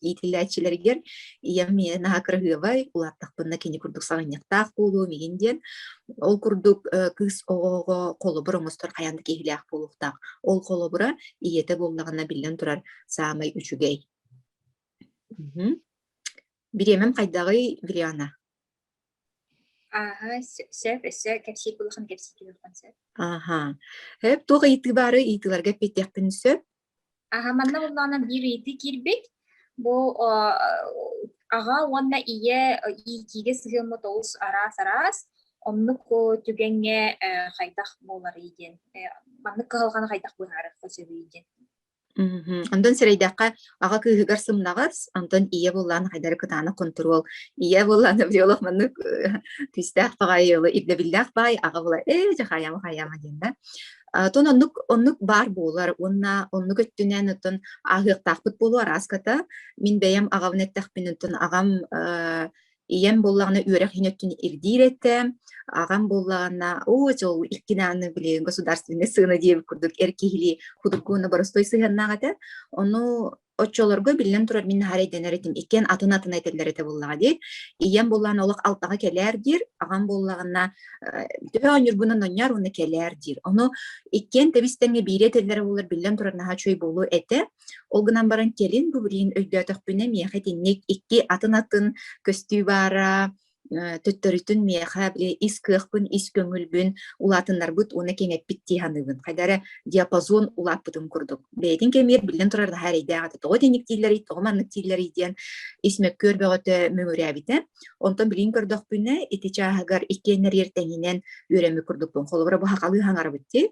иитиллээччилэригэр ийэм ийэ наһаа кыраһыабай, улааттахпына кини курдук саҕынньахтаах буолуом иһин диэн Ол курдук кыыс оҕоҕо холобур оҥостор хайаан да киһилээх буолуохтаах. Ол холобура ийэтэ буоллаҕына биллэн турар саамай үчүгэй. Бириэмэм хайдаҕый, Вириана? Ааһа, сөп, өссө кэпсиир булухан кэпсиир түһүөххүн сөп. Аха. Төп туох ыйытыы баары ыйытыыларга эппиэтиэхпин сөп. Аха, манна буллаҕына биир ыйытыы киирбит. Бу о, аҕа уонна ийэ иитиигэ сыһыаммыт олус араас-араас. Оннук түгэҥҥэ хайдах буоларый диэн маннык кыһалҕаны хайдах быһаарыахха сөбүй диэн. Онтон сирэйдэххэ аҕа кыыһыгар сымнаҕас, онтон ийэ буоллаҕына хайдары кытаанах контуруол. Ийэ буоллаҕына биолог маннык күүстээх баҕайы ирдэбиллээх баай, аҕа буолар ээ дьахаайама хайама диэн да. Атын оннук оннук баар буолар уонна оннук өттүнэн оттон ааһыахтаахпыт буолуо арааската мин бэйэм аҕабын эттэхпин оттон аҕам э, ийэм буоллаҕына үөрэх иһин өттүн ирдиир этэ аҕам буоллаҕына оо дьол иккинааны блин государственный сыана диэбит курдук эр киһилии худуркууна боростуой сыһыаннаах этэ ону Оччолорго биллэн турар мин наһаа эрэйдэнэр этим, иккиэн атын-атын этэллэр этэ буоллаҕа дии. ийэм буоллаҕына олох алтаҕа кэлээр диир, аҕам буоллаҕына э, төһө оонньуурбунан онньоор уонна кэлээр диир. Ону иккиэн тэбис-тэнгэ биири этэллэрэ буоллар биллэн турар наһаа үчүгэй буолуо этэ. Ол гынан баран кэлин бу билигин өйдөөтөхпүнэ миэхэ итинник икки атын-атын көстүү баара, төттөрүтүн миэхэ ис кыахпын, ис көҥүлбүн улаатыннарбыт уонна кэҥэппит дии саныыбын. Хайда эрэ диапазон улааппытын курдук. Бэйэтин кэмигэр биллэн турар наһаа эрэйдээх этэ. Тоҕо итинник дииллэрий, тоҕо маннык дииллэрий диэн ис мөккүөр бөҕөтө мөҥүрээбитэ. Онтон билин көрдөхпүнэ, ити чааһыгар иккиэннэриэр тэҥинэн үөрэммит курдукпун. Холобура, бу хакалыы хаҥарбыт дии.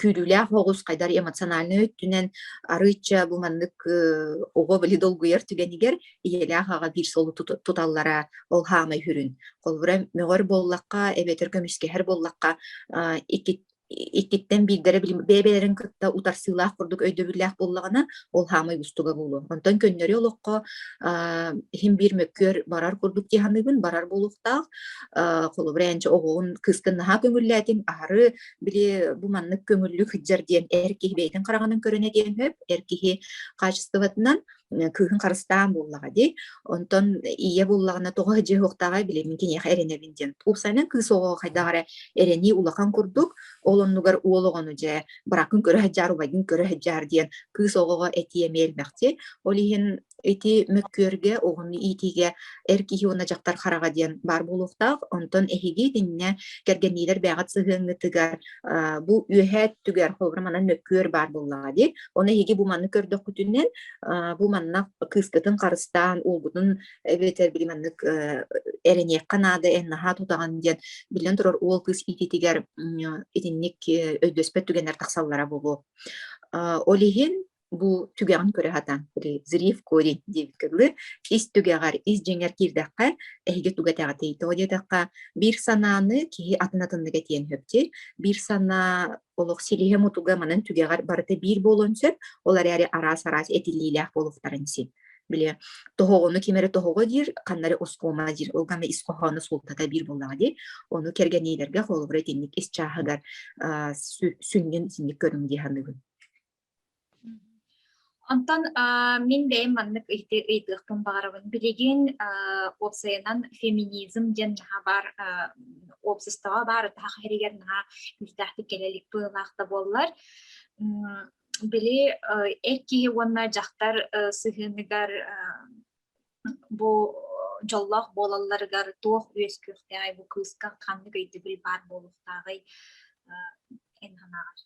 күүрүүлээх оҕус хайдар эмоциональнай өттүнэн арыычча бу маннык оҕо били долгуйар түгэнигэр ийэлээх аҕа биир солу туталлара ол хаамай хүрүн холбура мөҕөр буоллахха эбэтэр көмүскэһэр буоллахха иккиттэн биирдэрэ бэйэ-бэйэлэрин кытта утарсыылаах курдук өйдөбүллээх буоллаҕына ол хаамай устуга буолуо онтон көннөрү олоххо иһин биир мөккүөр барар курдук дьиһаныыбын барар буолуохтаах холобура эн оҕоҕун кыыскын наһаа көҥүллээтиҥ аһары били бу маннык көҥүллүк сыдьар диэн эр киһи бэйэтин хараҕынан көрүнэ диэн сөп эр киһи хаачыстыбатынан кыыһын харыстаан буоллаҕа дии онтон ийэ буоллаҕына тоҕо дьиһуохтааҕай били мин киниэхэ эрэнэбин диэн уопсайынан кыыс оҕоҕо хайдах эрэ эрэнии улахан курдук ол оннугар уол оҕону дьэ бракын көрө сыдьаар убайгын көрө сыдьаар диэн кыыс оҕоҕо этии эмиэ элбэхтиэ ол иһин ити мөккүөргэ уһун иитиигэ эр киһи уонна дьахтар хараҕа диэн баар буолуохтаах онтон эһиги итиннэ кэргэнниилэр бэҕэт сыһыаҥҥытыгар бу үөһээ өттүгэр холобура манан мөккүөр баар буоллаҕа дии оны эһиги бу манны көрдөххүтүнэн бу манна кыыскытын харыстаан уолгутун эбэтэр били маннык эрэниэххэ наада эн наһаа тутаҕын диэн биллэн турар уол кыыс иитиитигэр итинник өйдөспөт түгэннэр тахсаллара буолуо ол иһин бу түгэҕин көрө хатан зрив корень диэбит кылы ис түгэҕэр ис дьиҥэр киирдэххэ эһиги тугатэҕитий тоҕо диэтэххэ биир санааны киһи атын атыннык этиэн сөптир биир санаа олох силиһэ мутуга манан түгэҕэр барыта биир буолуон сөп ол эрээри араас араас этилиилээх буолуохтарын син били тоһоҕону ким эрэ тоһоҕо диир ханнары оскуома диир ол гана ис хоһооно суултата биир буоллаҕа дии ону кэргэниилэргэ холобура итинник ис чааһыгар сүнньүн синньик көрүҥ дии саныыбын Онтон мин бэйэм маннык ыйытыахпын баҕарабын. Билигин уопсайынан феминизм диэн наһаа баар уопсастыба баар атаһах иһэригэр наһаа күүстээхтик кэлэ илик быһыылаах да буоллар. Били эр киһи уонна дьахтар сыһыаныгар бу дьоллоох буолалларыгар туох үөскүөхтээҕий бу кыыска ханнык өйдөбүл баар буолуохтааҕый эн санааҕар?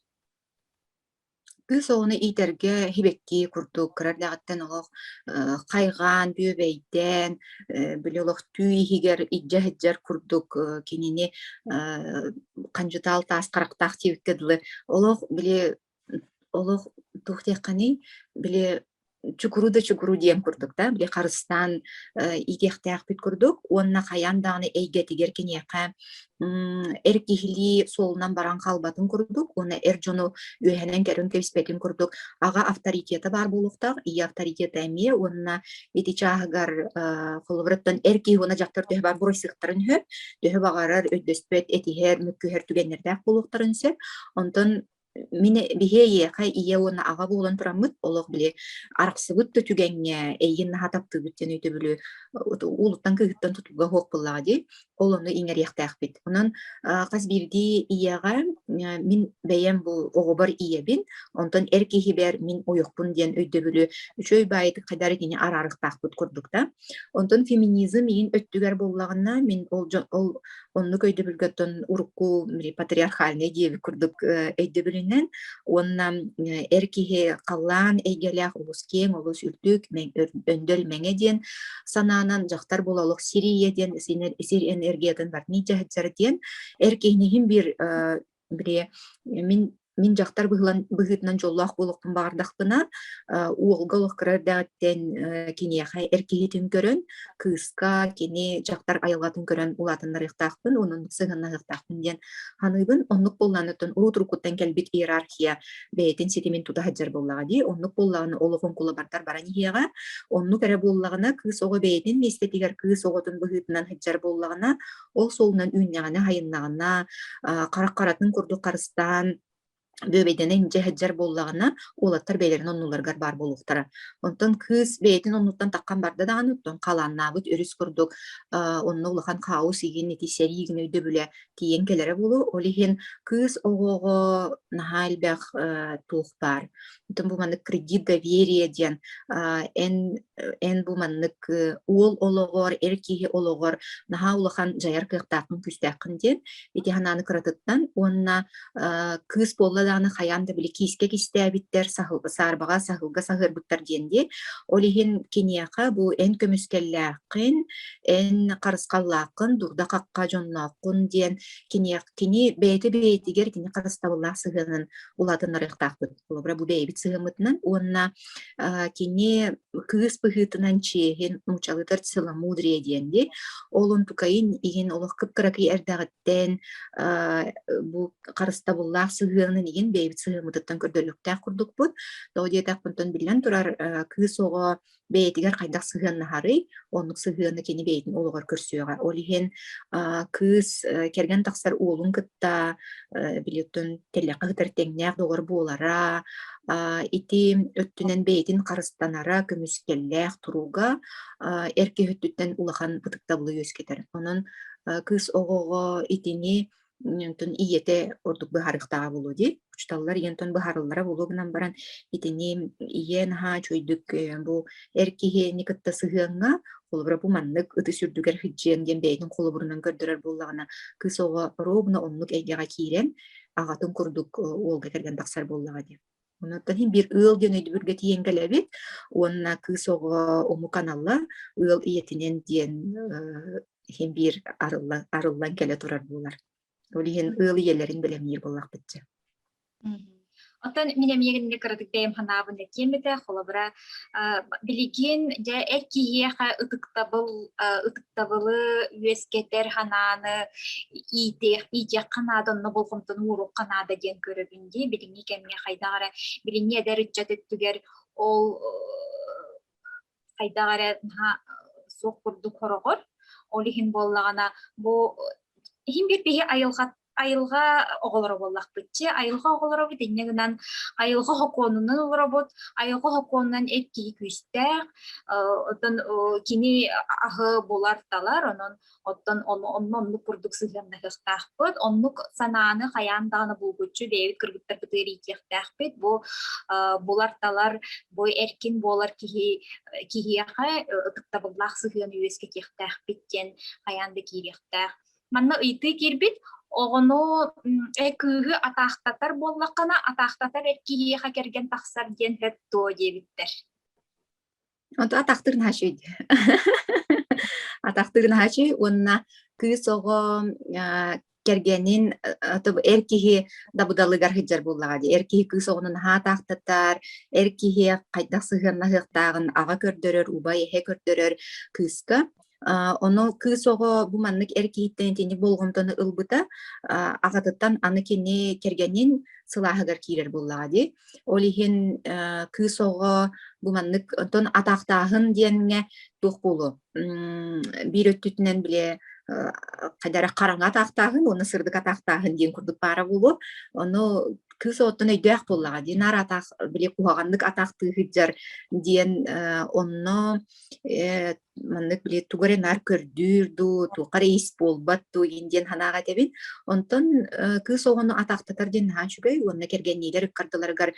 Кыыс оҕону иитэргэ сибэкки курдук кыра эрдэҕиттэн олох э, хайҕаан, бүөбэйдээн, э, били олохтуу иһигэр илдьэ сылдьар курдук э, кинини э, хандьытаал таас харахтаах диэбиккэ дылы олох били олох туох диэххиний били чукуру да чукуру диэн курдук да били харыстаан иитиэхтээхпит курдук уонна хайаан даҕаны эйгэтигэр киниэхэ эр киһилии суолунан баран хаалбатын курдук уонна эр дьону үөһэнэн кэлин кэбиспэтин курдук аҕа авторитета баар буолуохтаах ийэ авторитета эмиэ уонна ити чааһыгар холобураттан эр киһи уонна дьахтар төһө баар буруйсыахтарын сөп төһө баҕарар өйдөспөт этиһэр мөккүһэр түгэннэрдээх буолуохтарын сөп онтон Мин биһи эйиэхэ ийэ уонна аҕа буолан тураммыт олох били арахсыбыт да түгэҥҥэ эйигин наһаа таптыыбыт диэн өйдөбүлү уулуттан кыыһыттан тутууга суох буоллаҕа дии ол ону иҥэриэхтээхпит онон хас биирдии ийэҕэ мин бэйэм бу оҕобор ийэбин онтон эр киһибэр мин ойохпун диэн өйдөбүлү үчүгэй баайытык хайдары кини араарыктаахпыт курдук да Онтон феминизм миин өттүгэр буоллаҕына, мин ол дьон ол оннук өйдөбүлгөттөн урукку патриархальнай диэби курдук өйдөбүлүнэн уонна эр киһи халлаан эйгэлээх олус киэҥ, олус үрдүк, өндөр мэҥэ диэн санаанан дьахтар буола олох сирийэ диэн сир энергиятын барытын дьаһыдьар диэн эр киһини иһин биир бири мин Мин дьахтар быһыытынан дьоллоох буолуохпун баҕардахпына, уолга олох кыра эрдэҕиттэн киниэхэ эр киһитин көрөн, кыыска, кини дьахтар айылҕатын көрөн улаатыннарыахтаахпын, онон сыһыаннаһыахтаахпын диэн саныыбын. Оннук буолланыттан урут-уруккуттан кэлбит иерархия бэйэтин ситимин тута сылдьар буоллаҕа дии. Оннук буоллаҕына олоҕун кулабардар баран иһиэҕэ. Оннук эрэ буоллаҕына кыыс оҕо бэйэтин миэстэтигэр кыыс оҕотун быһыытынан сылдьар буоллаҕына, ол суолунан үүннэҕинэ хайыннаҕына харах харатын курдук харыстаан бүөбэйдэнэ индьэ сылдьар буоллаҕына уолаттар бэйэлэрин оннуларыгар баар буолуохтара онтон кыыс бэйэтин оннуттан таххан барда даҕаны оттон халааннаабыт өрүс курдук онно улахан хаос иһин ити сэрии гына өйдөбүлэ тиийэн кэлэрэ буолуо ол иһин кыыс оҕоҕо наһаа элбэх туох баар Отон бу маннык кредит доверие диэн эн эн бу маннык уол олоҕор эр киһи олоҕор наһаа улахан дьайар кыахтааххын күүстээххин диэн ити санааны кыратыттан уонна кыыс буолла даҕаны хайаан да били киискэ кистээбиттэр саарбаҕа саһылга саһыарбыттар диэн диэн ол иһин киниэхэ бу эн көмүскэллээххин эн харысхаллааххын дурда хахха дьоннооххун диэн киниэх кини бэйэтэ бэйэтигэр кини харыстабыллаах сыһыанын улаатыннарыахтаахпыт холобура бу бэйэбит сыһыаммытынан уонна кини кыыс быһыытынан чиэһин нуучалытар целомудрие диэн ди ол онтукайын иһин олох кыпкыракый эрдэҕиттэн бу харыстабыллаах сыһыанын иһин бэйэбит сыһыаммытыттан көрдөлүөхтээх курдукпут тоҕо диэтэхпинтэн биллэн турар кыыс оҕо бэйэтигэр хайдах сыһыаннаһарый, оннук сыһыаны кини бэйэтин олоҕор көрсүөҕэ. Ол иһин кыыс кэргэн тахсар уолун кытта билеттон тэллэххэ сытар тэҥнээх доҕор буолара, ити өттүнэн бэйэтин харыстанара, көмүскэллээх туруга эр киһи өттүттэн улахан ытыктабылы үөскэтэр. Онон кыыс оҕоҕо итини онтон ийэтэ ордук быһаарыктааҕа буолуо дии учууталлар ийэнтон быһаарыллара буолуо гынан баран итини ийэ наһаа үчүгүйдүк бу эр киһини кытта сыһыаҥҥа холобура бу маннык ытыс үрдүгэр сыдьыан диэн бэйэтин холобурунан көрдөрөр буоллаҕына кыыс оҕо ровно оннук эйгэҕэ киирэн аҕатын курдук уолга кэргэн тахсар буоллаҕа дии Онтон иһин биир ыал диэн өйдөбүлгэ тиийэн кэлэбит уонна кыыс оҕо омук аналла ыал ийэтинэн диэн э, иһин биир арыллан арыллан кэлэ турар буолар. Ол иһин ыал ийэлэрин бэлэмниир буоллахпытча. Оттон мин эмиэ кыратык бэйэм ханаабын да киэммитэ, холобура билигин дьэ эр киһиэхэ ытыктабыл ытыктабылы үөскэтэр ханааны иитиэххэ наада онно болҕомтону уоруохха наада диэн көрөбүн дии билиҥҥи кэмҥэ хайдах эрэ билиҥҥи эдэр ыччат өттүгэр ол хайдах эрэ суох курдук хороҕор ол иһин буоллаҕына бу иһин биир киһи айылҕа айылҕа оҕолоро буоллахпытчы айылҕа оҕолоробут инньэ гынан айылҕа хокуонунан олоробут айылҕа хокуонунан эр киһи күүстээх оттон кини аһы булар талар онон оттон онно оннук курдук сыһыаннаһыахтаахпыт оннук санааны хайаан даҕаны булгуччу бэйэбит кыргыттарбыт ыарыйдиэхтээхпит бу булар талар бу эркин буолар киһи киһиэхэ ытыктабыллаах сыһыан үөскэтиэхтээхпит диэн хайаан да киириэхтээх Манна ыйтыы киирбит, оҕону кыыһы атаахтатар буоллаххына, атаахтатар эр киһиэхэ кэргэн тахсар диэн сөп дуо диэбиттэр. Оту атахтыр наачый. Атахтыр наачый уонна кыыс оҕо кэргэнин эр киһи дабыдалыгар сыдьар буоллаҕа дии. Эр киһи кыыс оҕону наһаа атаахтатар, эр киһи хайдах сыһыаннаһыахтааҕын аҕа көрдөрөр, убай эһэ көрдөрөр кыыска Ону кыыс оҕо бу маннык эр киһиттэн итини болҕомтону ылбыта аҕатыттан аны кини кэргэнин сылааһыгар киирэр буоллаҕа дии. Ол иһин кыыс оҕо бу маннык онтон атаахтааһын диэҥҥэ туох буолуо? Биир өттүтүнэн билэ хайдары хараҥа атаахтааһын уонна сырдык атаахтааһын диэн курдук баара буолуо. Ону кыыс оттон өйдөөх буоллаҕа дии наар атаах били куһаҕаннык атаахтыы сылдьар диэн онно маннык били тугу эрэ наар көрдүүр дуу, туохха эрэ ис буолбат дуу иин диэн санааҕа этэбин. Онтон кыыс оҕону атахтатар диэн наһаа үчүгэй уонна кэргэнниилэр ыккардыларыгар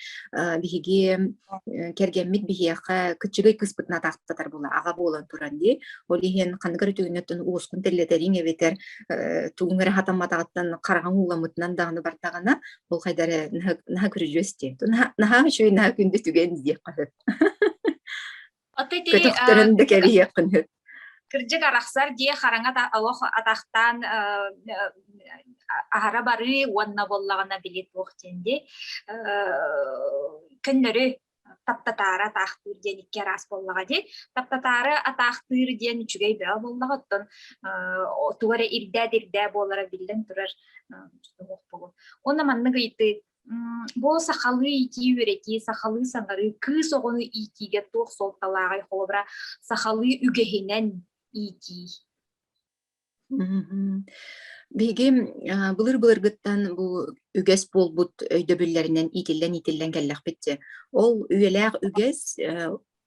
биһиги кэргэммит биһиэхэ кыччыгай кыыспытын атахтатар була аҕа буолан туран дии. Ол иһин ханнык эрэ түгэннэттэн уоскун тэллэтэриҥ эбэтэр тугуҥ эрэ хатамматаҕыттан хараҕаҥ ууламмытынан даҕаны бардаҕына ол хайдары наһаа күрүдьүөс диэн. Наһаа үчүгэй наһаа күндү түгэн диэх көтөхтөрөн да кэрийиэххин сөп кырдьык арахсар дии хараҥа олох атахтаан аһара барыы уонна буоллаҕына били туох диэн дии көннөрү таптатаары атаахтыыр диэн икки араас буоллаҕа дии таптатаары атаахтыыр диэн үчүгэй бөҕө буоллаҕа оттон туга эрэ ирдээт ирдээ буолара биллэн турар уонна маннык ыйытыы Бу сахалыы иитии үөрэтии, сахалыы саҥарыы, кыыс оҕону иитиигэ туох суолталааҕый, холобура, сахалыы үгэһинэн иитии. Биһиги былыр-былыргыттан бу үгэс буолбут өйдөбүллэринэн иитиллэн-иитиллэн кэллэхпит дии. Ол үйэлээх үгэс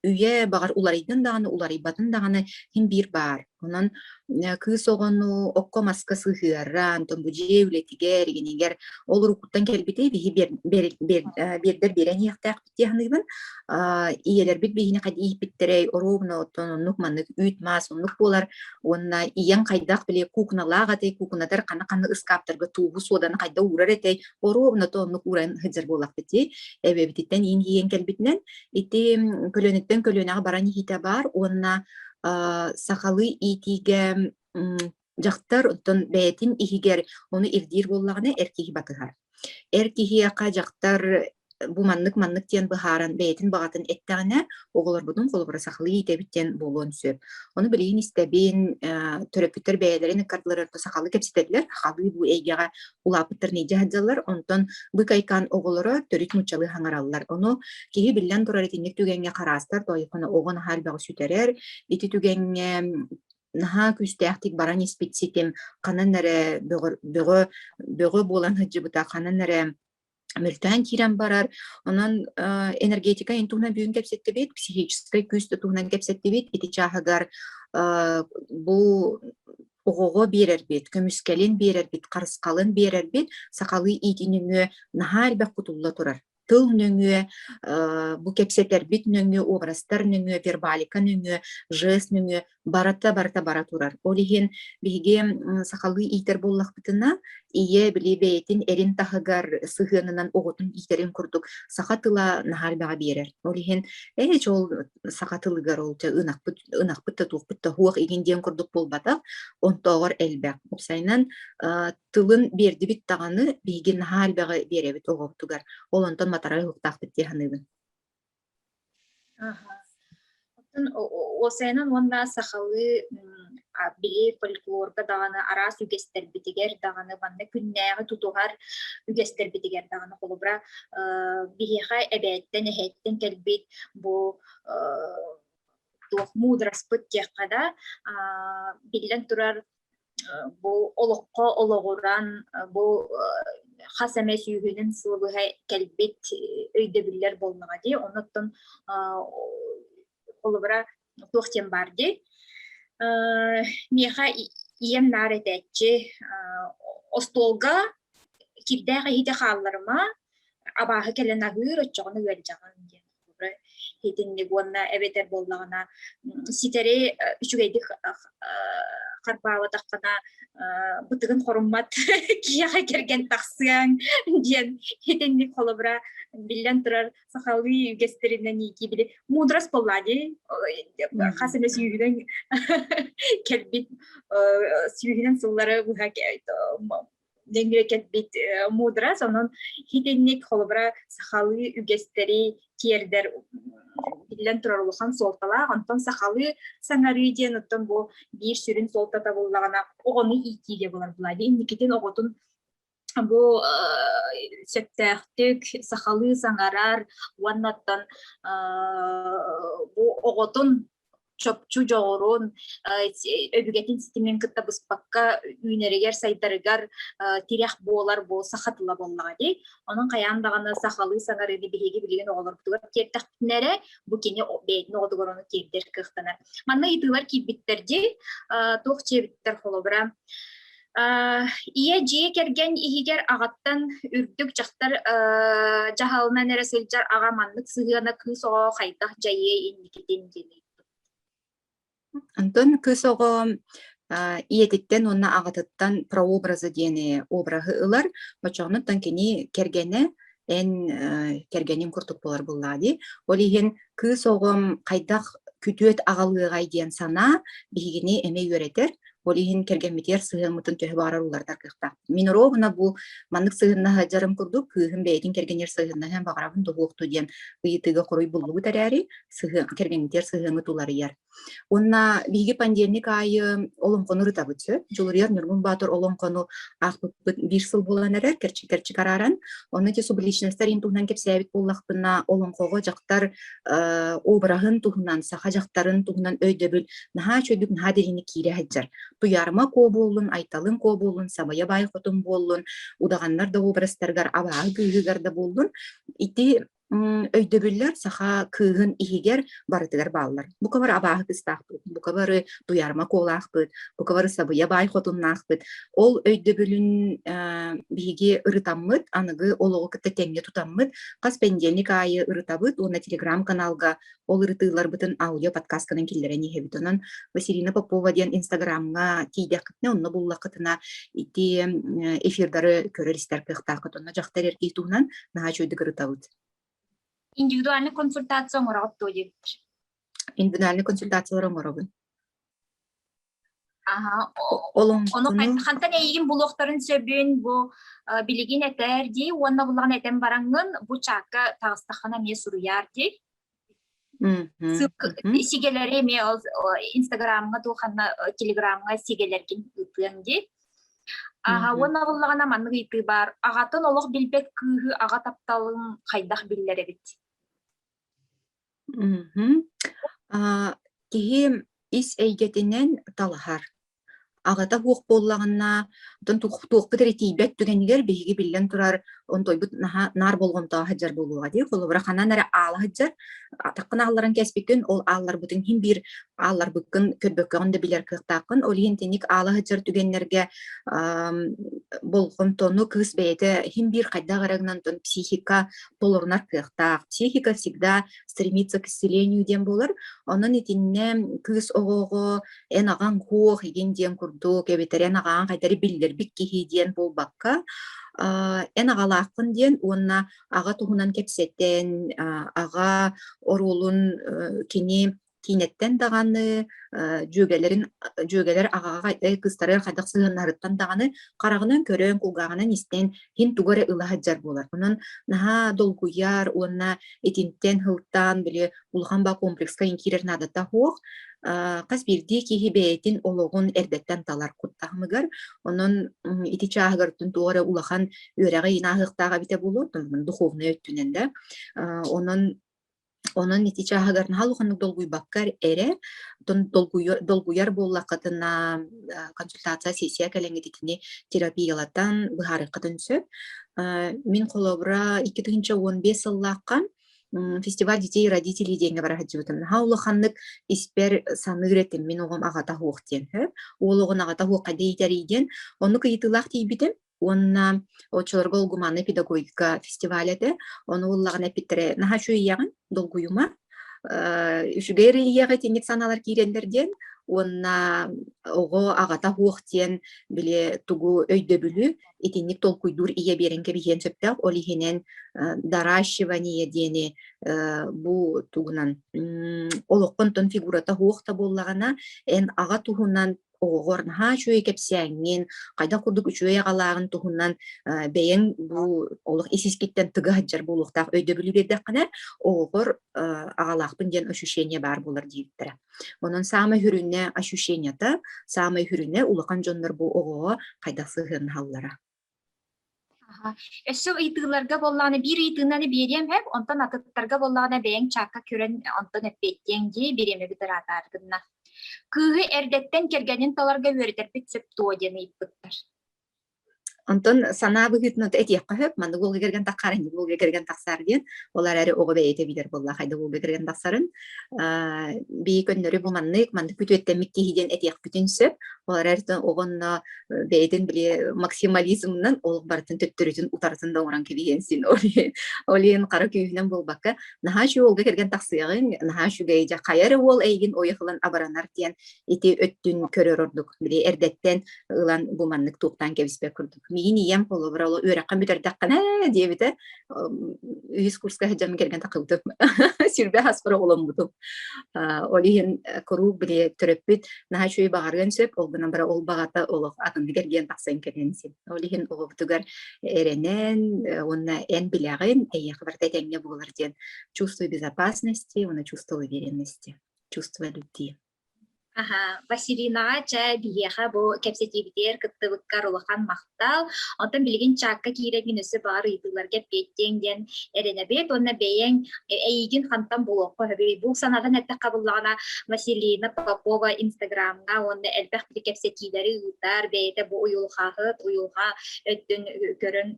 Үйэ, баҕар, уларыйдын даҕаны, уларыйбатын даҕаны иһин биир баар. Онон э, кыыс оҕону окко-маска сыһыара, онтон бу дьиэ үлэтигэр, игинигэр ол уруккуттан кэлбитэ биһи биэр, биэр, биэр, э, биэрдэр биэрэн иһиэхтээхпит дии саныыбын. А, ийэлэрбит биһини хадь ииппиттэрэй, оруобунаттан оннук-маннык үүт-маас оннук буолар уонна ийэң хайдах били кукуналаах этэй, кукунатар хана-хана ыскааптарга тууһу суоданы хайда уурар этэй, оруобунаты оннук ууран сыдьар буолахпыт дии. Эбэбититтэн иин ииэн кэлбитинэн Ити көлүөнэттэн көлүөнэҕэ баран иһиитэ баар уонна сахалыы иитиигэ дьахтар оттон бэйэтин иһигэр ону ирдиир буоллаҕына эр киһи батыһар. Эр киһиэхэ дьахтар бу маннык маннык диэн быһааран бэйэтин баҕатын эттэҕинэ оҕолорбутун холобура сахалыы иитэбит диэн буолуон сөп. Ону билигин истэбин төрөппүттэр бэйэлэрин ыккардыларын сахалыы кэпсэтэллэр, сахалыы бу эйгэҕэ улааппыттарын иидьэ сылдьаллар, онтон быкайкаан оҕолоро төрүт нууччалыы хаҥараллар. Ону киһи биллэн турар итинник түгэҥҥэ хараастар тоойхоно оҕо наһаа элбэҕи сүтэрэр. Ити түгэҥҥэ наһаа күүстээхтик баран испит ситим ханан эрэ бөҕө бөҕө бөҕө буолан сылдьыбыта ханан эрэ мөлтөөн киирэн барар. Онон энергетика ин туһунан бүгүн кэпсэттибит, психическай күүс туһунан кэпсэттибит. Ити чааһыгар бу оҕоҕо биэрэрбит, көмүскэлин биэрэрбит, харысхалын биэрэрбит, сахалыы иити нөҥүө наһаа элбэх кутулла турар тыл нөҥүө, бу кэпсэтэрбит нөҥүө, уобарастар нөҥүө, вербалика нөҥүө, жест нөҥүө барата барата бара турар. Ол иһин биһиги сахалыы иитэр буоллахпытына, ийэ били бэйэтин эрин таһыгар сыһыанынан оҕотун иитэрин курдук саха тыла наһаарбаҕа биэрэр. Ол иһин ээ ол саха тылыгар олча ынахпыт ынахпыт да туохпут да хуох игин диэн курдук буолбатах, онтооҕор элбэх. Сайынан тылын биэрдибит даҕаны биһиги наһаарбаҕа биэрэбит оҕобутугар. Ол онтон матарай уһуктаахпыт дии саныыбын. Аха. Оттон о о уосайынан уонна сахалыы, м, а били фольклорга даҕаны араас үгэстэрбитигэр даҕаны манна күннээҕи тутуһар үгэстэрбитигэр даҕаны холобура, э, биһиэхэ эбээттэн, эһээттэн кэлбит бу, э, туох муудараспыт диэххэ да, а, биллэн турар бу олоххо олоҕуран бу хас эмэ сүүһүнэн сыл быһа кэлбит өйдөбүллэр болмаҕа дии оннуттан холобура туох диэн баар дии миэхэ ийэм наар этээччи остуолга кирдээх иһити хаалларыма абааһы кэлэн аһыыр оччоҕуна ыалдьаҕын диэн итинник уонна эбэтэр буоллаҕына ситэри үчүгэйдик харбаабатаххына бытыгын хоруммат киһиэхэ кэргэн тахсыаҥ диэн итинник холобура биллэн турар сахалыы үгэстэринэн иики били мудрас болла ди хас эмэ сүүһүнэн кэлбит сүүһүнэн сыллары быһа денгре кэтбит мудра сонун хитинник холобура сахалыы үгэстэри тиэрдэр биллэн турар улахан суолталаах онтон сахалыы саҥарыы диэн оттон бу биир сүрүн суолтата буллаҕына оҕону иитиигэ болар былади инникитин оҕотун бу сөптөөхтүк сахалыы саҥарар уонна оттон бу оҕотун чопчу дьоҕурун, өбүгэтин ситимин кытта быспакка үүнэригэр, сайдарыгар тирэх буолар буолса хатыла буоллаҕа дии. Онон хайаан даҕаны сахалыы саҥарыыны биһиги билигин оҕолорбутугар тиэрдэхпинэ бу кини бэйэтин оҕотугар ону тиэрдэр кыахтанар. Манна ыйытыылар киирбиттэр дии. Туох дьиэбиттэр холобура Ийэ дьиэ кэргэн иһигэр аҕаттан үрдүк дьахтар дьаһалынан эрэ сылдьар аҕа маннык сыһыана кыыс оҕо хайдах дьайыай инникитин диэн Антон кыыс оҕо ийэтиттэн уонна аҕатыттан прообраза диэни обраһы ылар, оччонуттан кини кэргэнэ эн кэргэниҥ курдук буолар буллаа дии. Ол иһин кыыс оҕом хайдах күтүөт аҕалыаҕай диэн санаа биһигини эмэ үөрэтэр. Ол иһин кэргэммитигэр сыһыаммытын төһө баҕарар уларытар кыахтаах. Мин ровно бу маннык сыһыннаһа дьарым курдук кыыһым бэйэтин кэргэнигэр сыһыннаһыан баҕарабын да уһуохтуу диэн ыйытыыга хоруй буллубут эрээри, сыһыан кэргэҥҥитигэр сыһыаҥҥыт уларыйар. Уонна биһиги пандемик аайы олоҥхону ырытабыт сөп. Дьулуруйар Ньургун Баатыр олоҥхону аахпыппыт биир сыл булан эрэр, кэрчик-кэрчик арааран. Онно ити субличностар ин туһунан кэпсээбит буоллахпына, олоҥхоҕо дьахтар э, обраһын туһунан, саха дьахтарын туһунан өйдөбүл наһаа чөйдүк, наһаа дириҥник киирэ сылдьар. Туйарма куо буоллун, Айталын куо буоллун, Самыйа Баай Хотун буоллун, удаҕаннар да образтарыгар, абааһы күүһүгэр да буоллун, ити өйдөбүллэр саха кыыһын иһигэр барытыгар бааллар. Бука бары абааһы кыстаахпыт, бука бары туйаарма куолаахпыт, бука бары сабыйа баай хотуннаахпыт. Ол өйдөбүлүн биһиги ырытаммыт, аныгы олоҕу кытта тэҥҥэ тутаммыт. Хас пэндиэлник аайы ырытабыт уонна телеграм-каналга Ол ырытыыларбытын аудио подкастканан киллэрэн иһэбит. Онон Василина Попова диэн инстаграмҥа тиийдэххитинэ, онно буллаххытына ити эфирдары көрөр-истэр кыахтааххыт. Онно дьахтар эргии туһунан наһаа үчүгэй ырытабыт. Индивидуальный консультация оҥороҕут дуо диэбиппэр. Индивидуальный консультациялары оҥоробун. Аха, ону Олоҥхону хантан эйигин булуохтарын сөбүн бу э, билигин этэр дии уонна буллаҕын этэн бараҥҥын бу чаакка таҕыстаххына эмиэ суруйаар дии. Сигэлэри эмиэ инстаграмҥа туоханна телеграмҥа сигэлэргин ыытыаҥ дии. Аха уонна буллаҕына маннык ыйтыы баар. Аҕатын олох билбэт кыыһы аҕа тапталын хайдах биллэр эбит? Мгм. А, киһи ис эйгэтинэн талаһар. Аҕата суох буоллаҕына, оттон туох туохпут эрэ тиийбэт түгэнигэр биһиги биллэн турар онтуйбут наһаа наар болҕомтоҕо сылдьар буолуоҕа дии. Холобура, ханан эрэ аала сылдьар, атаххын аалларан кэспиккин, ол аалларбытын иһин биир аалларбыккын көрбөккөҕүн да билэр кыахтааххын. Ол иһин итинник аала сылдьар түгэннэргэ, ам, болҕомтону кыыс бэйэтэ иһин биир хайдах эрэ гынан психика толорунар кыахтаах. Психика всегда стремится к исцелению диэн буолар. Онон итиннэ кыыс оҕоҕо эн аҕаҥ куох игин диэн курдук эбэтэр эн аҕаҕын хайдары биллэрбит киһи диэн буолбакка, эн аҕалааххын диэн уонна аҕа туһунан кэпсэтэн, аҕа оруолун кини киинэттэн даҕаны дьүөгэлэрин дьүөгэлэр аҕаҕа кыстары хайдах сыһыаннаһарыттан даҕаны хараҕынан көрөн кулгааҕынан истэн иһин тугу эрэ ыла сылдьар буолар онон наһаа долгуйар уонна итинтэн сылтаан били улахан ба комплекска иҥкирэр наадата суох хас биирдии киһи бэйэтин олоҕун эрдэттэн талар куттаһымыгар онон ити чааһыгартан туох эрэ улахан үөрэҕи инааһыахтаах эбитэ буолуо духовнай өттүнэн да онон Онон ити чааһыгар наһаа улаханнык долгуйбаккар эрэ, оттон долгуйар долгуйар буоллаххытына, э, консультация, сессия кэлэҥҥит итини терапиялатан, быһаарыаххытын сөп. Э, мин холобура 2015 сыллаахха м, фестиваль детей и родителей диэҥҥэ бара сылдьыбытым. Наһаа улаханнык испэр саныыр этим, мин оҕом аҕата суох диэн, сөп. Уол оҕону аҕата суох хайда иитэрий диэн. Оннук ыйытыылаах тиийбитим. уонна оччолорго улгуманный педагогика фестиваль этэ ону ыллаҕын эппиттэрэ наһаа үчүгэйэҕин долгуйума үчүгэй рельеҕа итинник санаалар киирэллэр диэн уонна оҕо аҕата суох диэн били тугу өйдөбүлү итинник толкуйдуур ийэ биэрэн кэбиһиэн сөптөөх ол иһинэн наращивание диэни бу тугунан олоххонтон фигурата суох да буоллаҕына эн аҕа туһунан оҕоҕор наһаа үчүгэй кэпсээҥҥин, хайдах курдук үчүгэй аҕалааҕын туһунан бэйэҥ бу олох ис-искиттэн тыга сылдьар буолуохтаах өйдөбүлү биэрдэххинэ, оҕоҕор аҕалаахпын диэн ощущение баар буолар диэбиттэрэ. Онон саамай сүрүнэ ощущениета, саамай сүрүнэ улахан дьоннор бу оҕоҕо хайдах сыһыаннаһаллара. Аха. Өссө ыйытыыларга буоллаҕына, биир ыйытыынаны биэриэм эп, онтон атыттарга буоллаҕына бэйэҥ чаакка көрөн онтон эппиэттиэҥ дии, бириэмэ бытараатар гынна. Кыыһы эрдэттэн кэргэнин таларга үөрэтэрбит сөп дуо диэн ыйыппыттар. Онтон санаа быһыытынан этиэххэ сөп, маннык уолга кэргэн тахсаар, инник уолга кэргэн тахсаар диэн. Ол эрээри оҕо бэйэтэ билэр буолла, хайдах уолга кэргэн тахсарын. бии көннөрү бу маннык маннык күтүөттэммит киһи диэн этиэхпитин сөп ол эрээри обонно бэйэтин били максимализмынан ол барытын төттөрүтүн утарытын да оҥорон кэбиһиэн син ол иһин хара күүһүнэн буолбакка наһаа шуолга кэргэн тахсыаҕыҥ наһаа үчүгэй дьэ хайа эрэ уол эйигин ойохылан абаранар диэн ити өттүн көрөр ордук били эрдэттэн ылан бу маннык туохтаан кэбиспэт курдук миин ийэм холобура ол үөрэххэ бүтэрдэххинэ диэбитэ үһүс курска сылдьан кэргэн тахыбытым сүрбэ аспар оҕоломмутум ол иһин куруук били төрөппүт наһаа үчүгэй баҕарыан сөп ол гынан бара ол баҕата олох атыныгар диэн тахсан кэлэн син ол иһин оҕобутугар эрэнэн уонна эн билэҕин эйиэхэ барыта этэҥҥэ буолар диэн чувство безопасности уонна чувство уверенности чувство любви Аһа, Василинаҕа чэ биһиэхэ бу кэпсэтиибитигэр кыттыбыккар улахан махтал. Оттон билигин чаакка киирэбин өссө баҕар ыйытыыларга эппиэттиэҥ диэн эрэнэбит уонна бэйэҥ э, эйигин хантан булуохха сөбүй? Бу санаатын эттэххэ буоллаҕына Василина Попова Инстаграмҥа уонна элбэх кэпсэтиилэри ыытар, бэйэтэ бу уйулҕаһыт, уйулҕа өттүн көрөн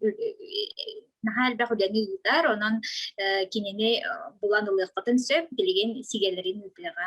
наһаа элбэх үлэни ыытар, онон э, кинини э, булан ылыаххытын сөп, билигин сигэлэрин ыытыаҕа.